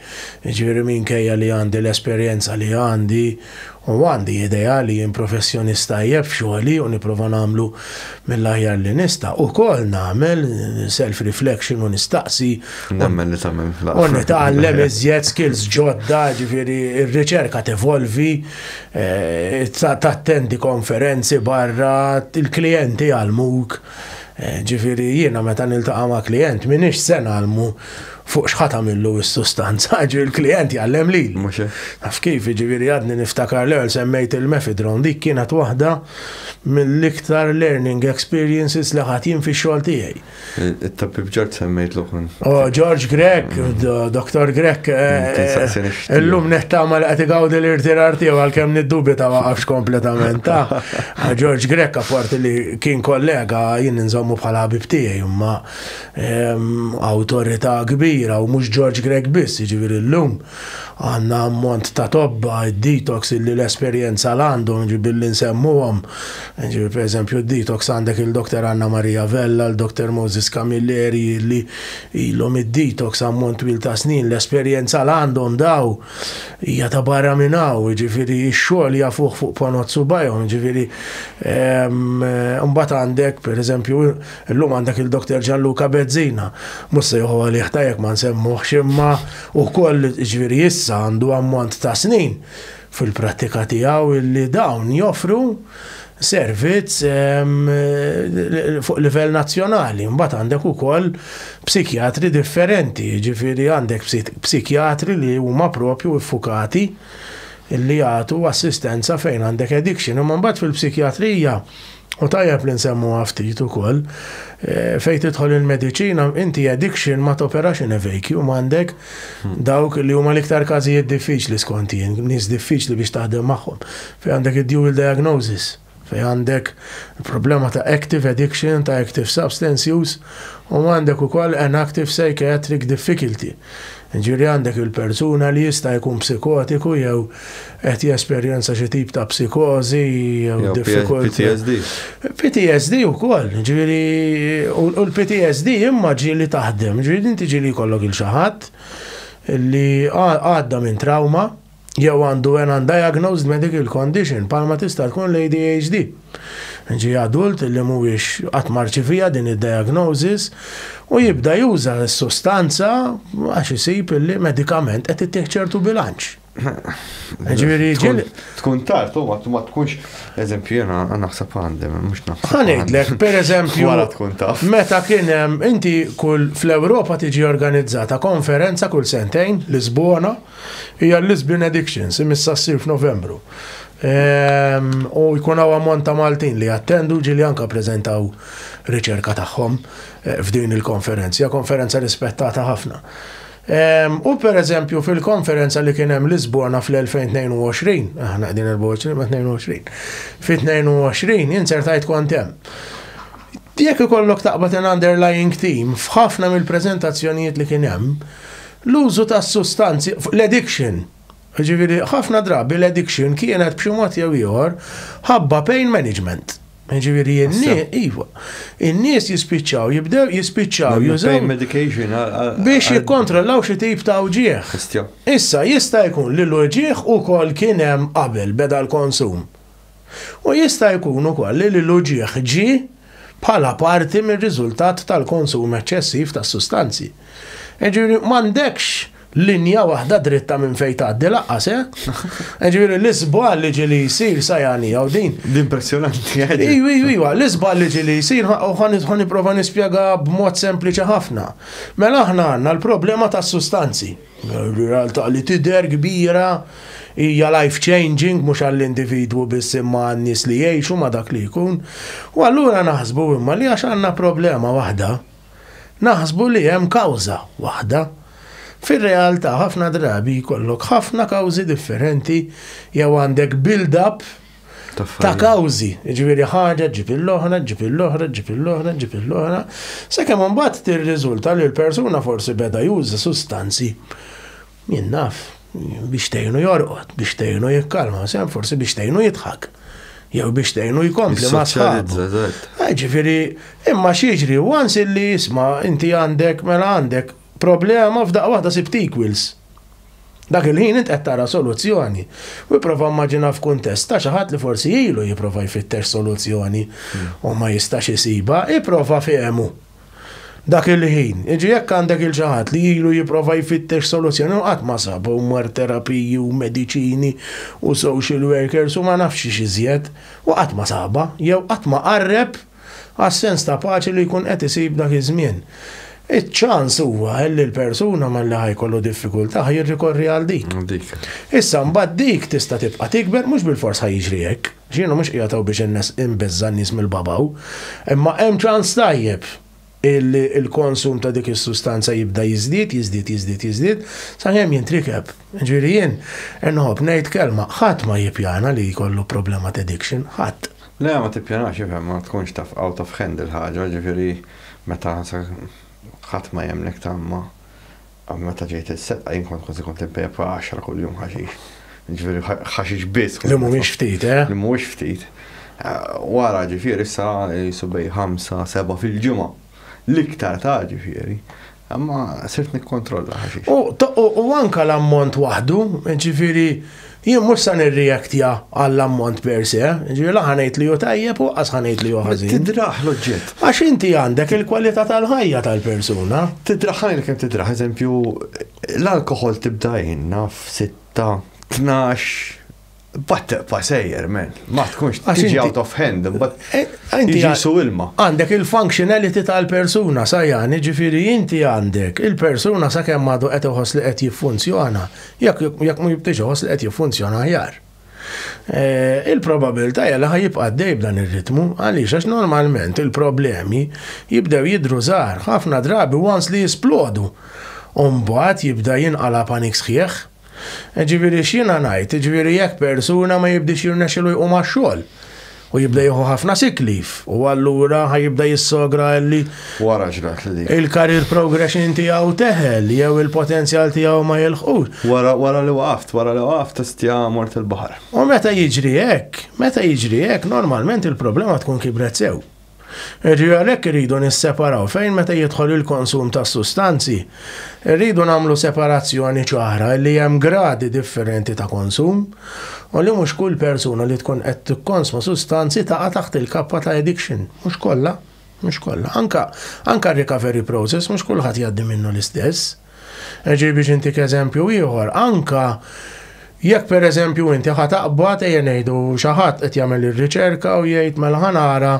ġifieri minkejja li għandi l-esperjenza li għandi, U għandi idea li jien professjonist tajjeb f'xogħli u nipprova nagħmlu mill-aħjar li nista'. Ukoll nagħmel self-reflection u nistaqsi. Nemmen li tagħmel fl-aħħar. U nitgħallem iżjed skills ġodda, ġifieri r-riċerka tevolvi, eh, tattendi konferenzi barra, il-klijenti jgħallmuk. Ġifieri jiena meta niltaqa' ma' klijent m'iniex se ngħallmu fuq x'ħa tagħmillu s-sustanza, ġifieri l-klijent jgħallem lili. Mhux hekk? Taf kif, jiġifieri għadni niftakar l-ewwel semmejt il-mefedrone, dik kienet waħda mill-iktar learning experiences li ħadt jien fix-xogħol tiegħi. It-Tabib George semmejtlu kont. O, George Grech, Dottor Grech, illum nittama li qed igawdi l-irtirar tiegħu għalkemm niddubita waqafx kompletament, taf. George Grech apparti li Kien kollega, jien inżommu bħala ħabib tiegħi, imma awtorità kbira u mhux George Grech biss, jiġifieri llum għandna ammont ta' tobba id-detox illi l-esperjenza l-għandhom billi nsemmuhom. Ġifieri pereżempju d-detox għandek il-Doktor Anna Maria Vella, l-Doktor Moses Camilleri illi ilhom id-detox ammont twil ta' snin, l-esperjenza l-għandhom daw. Hija ta' barra minn hawn, jiġifieri x-xogħol jafuh fuq ponot subajhom, jiġifieri mbagħad għandek pereżempju llum għandek il-Doktor Ġanluka Bezzina. Mhux se joħu għalih ta' jekk ma nsemmuhx imma wkoll jiġifieri issa għandu ammont ta' snin fil-prattika tiegħu illi dawn joffru servizz fuq livell nazzjonali. Mbagħad għandek ukoll psikjatri differenti, jiġifieri għandek psikjatri li huma propju iffukati li jagħtu assistenza fejn għandek addiction. Imma mbagħad fil-psikjatrija u tajjeb li nsemmuha ftit ukoll eh, fejn tidħol il-mediċina inti addiction ma toperax in a vacuum għandek hmm. dawk li huma l-iktar każijiet diffiċli skont jien, nies diffiċli biex taħdem magħhom. Fejn għandek id-dual diagnosis, fejn għandek problema ta' active addiction, ta' active substance use, u għandek ukoll an active psychiatric difficulty, jiġifieri għandek il-persuna li jista' jkun psikotiku jew qed jesperjenza xi tip ta' psikożi jew diffikultà. Jew PTSD. PTSD ukoll, jiġifieri u l-PTSD imma ġieli taħdem, ġieli inti ġieli jkollok il xi ħadd li għadda minn trawma, jew għandu an undiagnosed medical condition, palma tista' tkun l-ADHD. Ġi adult li mhuwiex qatt marċivija din id-diagnosis u jibda juża s-sustanza għax isib li medikament qed ittieħ ċertu bilanċ. Ġifieri ġil. Tkun tard, u ma tkunx, eżempju, jena naħseb għandi, mux naħseb. Għanidlek, per eżempju, għara tkun taf. Meta kien hemm, inti kull fl-Ewropa tiġi organizzata konferenza kull sentejn, Lisbona, Hija l-Lisbon Addictions, imissa ssir f'Novembru. Ehm, u jkun hawn ammont ta' Maltin li jattendu ġili anka preżentaw riċerka tagħhom eh, f'din il-konferenza, konferenza rispettata ħafna. Ehm, u per eżempju fil-konferenza li kien hemm Lisbona fl-2022, aħna qegħdin 2022, fit-22 insertajt kont hemm. Jekk ikollok taqbad an underlying team f'ħafna mill-preżentazzjonijiet li kien hemm, L-użu ta' sustanzi, l-addiction, jiġifieri ħafna drabi l-addiction kienet b'xi mod jew ieħor ħabba pain management. Jiġifieri iva, in-nies jispiċċaw jibdew jispiċċaw jużaw medication biex jikkontrollaw xi tip ta' wġieħ. Issa jista' jkun li l-wġieħ ukoll kien hemm qabel beda l-konsum. U jista' jkun ukoll li l-uġigħ ġie bħala parti mir-riżultat tal-konsum eċċessiv ta' sustanzi. Jiġifieri m'għandekx linja waħda dritta minn fejn tgħaddi lanqas, eh? Jiġifieri l-iżball li ġieli jsir sajani jew din. Impressjonanti. Ejwa, ejwa, l-iżball li ġieli jsir ħa nipprova nispjega b'mod sempliċi ħafna. Mela aħna għandna l-problema tas-sustanzi. Realtà li tidher kbira hija life changing mhux għall-individwu biss imma għan-nies li jgħixu ma' dak li jkun. U allura naħsbu imma li għax għandna problema waħda, naħsbu li hemm kawża waħda. Fir-realtà ħafna drabi jkollok ħafna kawżi differenti jew għandek build-up, ta' kawżi, ġifieri ħaġa ġib l-oħra, ġib l-oħra, ġib l-oħra, ġib l-oħra, sakemm imbagħad tirriżulta li l-persuna forsi beda juża sustanzi jien naf biex tgħinu jorqod, biex tgħinu jikkalma, sem forsi biex tgħinu jidħak jew biex tgħinu jkompli ma' sħabu. Eh, ġifieri, imma xieġri, once illi jisma' inti għandek mela għandek Problema, f'daqqa waħda sibt equals. Dak il-ħin int qed tara soluzzjoni. U ipprova immaġina f'kuntest ta' xi ħadd li forsi ilu jipprova jfittex soluzzjoni u ma jistax isibha, ipprova fehmu. Dak il-ħin, jiġri jekk għandek il xi ħadd li ilu jipprova jfittex soluzzjoni u qatt ma sabha u mar terapiji u mediċini u social workers u ma nafx x'ix iżjed u qatt ma sabha jew qatt ma qarreb għas-sens ta' paċi li jkun qed isib dak iż-żmien. Iċ-ċans huwa li l-persuna malli ħa jkollu diffikultà ħa jirrikorri għal dik. Issa mbagħad dik tista' tibqa' tikber mhux bilfors ħa jiġri hekk. Jiena mhux qiegħed hawn biex inbeżża' n-nies mill-babaw. Imma hemm ċans tajjeb. illi l-konsum ta' dik is-sustanza jibda jiżdied, jiżdied, jiżdied, jiżdied, sakemm jintrikeb. Ġifieri jien inħobb ngħid kelma, ħadd ma jippjana li jkollu problema t'addiction, ħadd. Le, ma tippjanax, ifhem, ma tkunx taf out of hand il-ħaġa, ġifieri meta ħadd ma jemmnek tgħamma. Għal meta ġejt il-setqa jien kont kważi kont impepa 10 kuljum ħaxix. Ġifieri ħaxix biss. Li mhumiex ftit, eh? Li mhumiex ftit. Wara ġifieri issa jisu bej 5 seba' fil-ġimgħa. L-iktar ta' ġifieri. Imma sirt nikkontrolla ħaxix. U anka l-ammont waħdu, ġifieri Jien mhux se nirreactja għall-ammont per se, ġifieri la ħanejt li hu tajjeb u qas ħanejt li hu ħażin. Tidraħ l-oġġett. Għax inti għandek il-kwalità tal-ħajja tal-persuna. Tidraħ ħajja kemm tidraħ, eżempju, l-alkoħol tibda għinna f'sitta, tnax, bat teqpa sejjer, men. Ma tkunx tiġi out of hand, but eh, eh, inti jisu ilma. Għandek il-functionality tal-persuna, sajani, ġifieri inti għandek il-persuna sa kemm għadu qed iħoss li qed jiffunzjona Jekk jekk mhu jibqgħix iħoss li qed jiffunzjona aħjar. Il-probabilità hija li ħa jibqa' għaddej b'dan ir-ritmu, għaliex għax normalment il-problemi jibdew jidhru żgħar, ħafna drabi once li jisplodu, u mbagħad jibda jinqala' panik sħiħ. Jiġifieri x'jiena ngħid, jiġifieri jekk persuna ma jibdiex jirnexxilu jqum għax-xogħol, U jibda jieħu ħafna sick leave. U allura ħajibda jissogra li. Wara ġrat li dik. Il-career progression tiegħu teħel jew il-potenzjal tiegħu ma jilħqux. Wara wara li waqaft, wara li waqaft tistja mort il-baħar. U meta jiġri hekk, meta jiġri hekk, normalment il-problema tkun kibret sew. Jiġifieri għalhekk irridu nisseparaw fejn meta jidħol il-konsum ta' sustanzi, irridu nagħmlu separazzjoni ċara li hemm gradi differenti ta' konsum u li mhux kull persuna li tkun qed tikkonsma sustanzi taqa' taħt il-kappa ta' addiction. Mhux kollha. Mhux kollha. Anke anke r-recovery process mhux kulħadd jgħaddi minnu l-istess. Ġej biex intik eżempju ieħor, anke jekk pereżempju inti ħa taqbad ejja ngħidu xi ħadd qed jagħmel ir-riċerka u jgħid mela ħa nara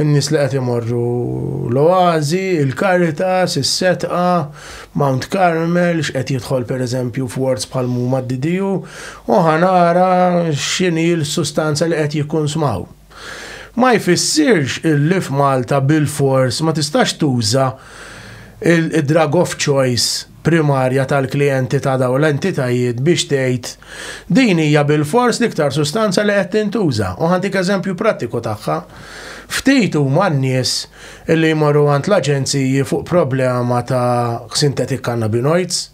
n-nies li qed imorru l-Oażi, il-Caritas, is-Setqa, Mount Carmel, x'qed jidħol pereżempju f'wards bħal huma d-DDU, u ħa nara x'inhi l-sustanza li qed jikkunsmaw. ma jfissirx illi f'Malta bilfors ma tistax tuża d-drug of choice primarja tal-klijenti ta' dawn l-entitajiet biex tgħid din hija bilfors l-iktar sustanza li qed tintuża. U ħantik eżempju prattiku tagħha. Ftit huma n-nies li jmorru għand l-aġenziji fuq problema ta' synthetic cannabinoids.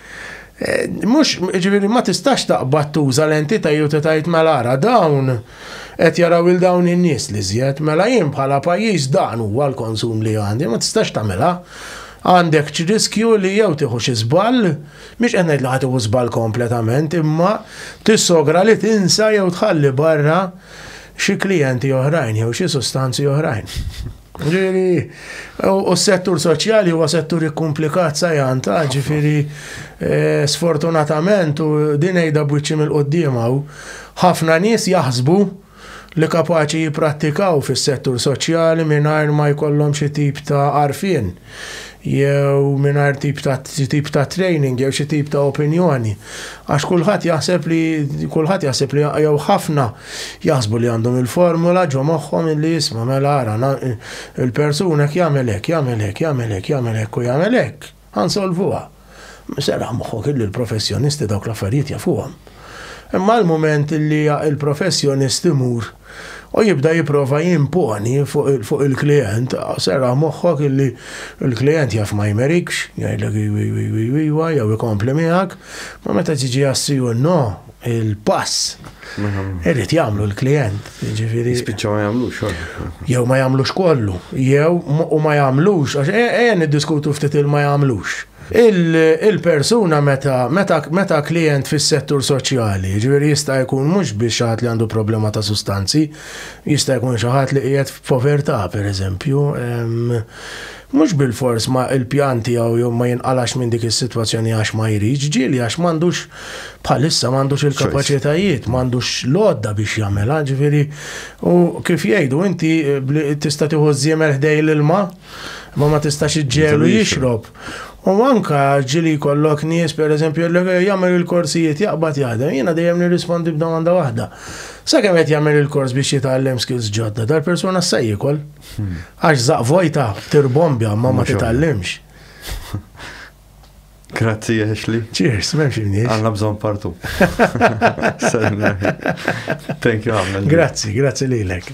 Eh, mux, ġiviri, ma tistax taqbad tuża l-entita jew tajt mela ara dawn qed jaraw il dawn in-nies li żjed, mela jien bħala pajjiż dan huwa l-konsum li għandi, ma tistax tagħmilha. Għandek riskju li jew tieħu xi żball, mhix qed ngħid li ħadd żball kompletament, imma tissogra li tinsa jew tħalli barra xi klijenti oħrajn jew xi sustanzi oħrajn. Ġiri, u s-settur soċjali huwa settur ikkumplikat sajan ta' ġifiri eh, sfortunatament u din ejda bwiċċi mill-qoddima u ħafna nies jaħsbu li kapaċi jiprattikaw fis-settur soċjali mingħajr ma jkollhom xi tip ta' arfin. jew mingħajr tip ta' tip ta' training jew xi tip ta' opinjoni. Għax kulħadd jaħseb li kulħadd jaħseb li jew ħafna jaħsbu li għandhom il-formula ġo moħħhom illi jisma' mela ara il-persuna jagħmel hekk, jagħmel hekk, jagħmel hekk, jagħmel hekk u jagħmel hekk. Ħa nsolvuha. Serraħ moħħok illi l-professjonisti dawk l-affarijiet jafuhom. Imma l-mument illi il-professjonist imur u jibda jipprova jimponi fuq il-klijent, serraħ moħħok illi l-klijent jaf ma jmerikx, jgħidlek iwa, iwa, iwa, iwa, jew ikompli miegħek, ma meta tiġi għas-CUNO, il-pass. Irrid jagħmlu l-klijent, jiġifieri. Spiċċa ma jagħmlux. Jew ma jagħmlux kollu, jew u ma jagħmlux, għax ejja e, e, niddiskutu ftit il-ma jagħmlux. Il-persuna meta meta meta klijent fis-settur soċjali, ġifieri jista' jkun mhux biex ħadd li għandu problema ta' sustanzi, jista' jkun xi ħadd li qiegħed f'povertà pereżempju, Mhux bilfors ma il-pjan tiegħu ma jinqalax minn dik is-sitwazzjoni għax ma jridx, ġieli għax m'għandux bħalissa m'għandux il-kapaċitajiet, m'għandux l-għodda biex jagħmilha, ġifieri u kif jgħidu inti tista' tieħu ż-żiemel ħdej l-ilma imma ma tistax iġġegħlu jixrob. U anka ġili jkollok nies pereżempju li jagħmel il-korsijiet jaqbad jaħdem, jiena dejjem nirrispondi b'domanda waħda. Sakemm qed jagħmel il-kors biex jitgħallem skills ġodda, dal-persuna se jiekol. Għax zaq vojta tirbombja ma ma titallimx. Grazzi, Ashley. Cheers, memx imniex. Għanna bżon partu. Thank you, Grazzi, grazzi lilek.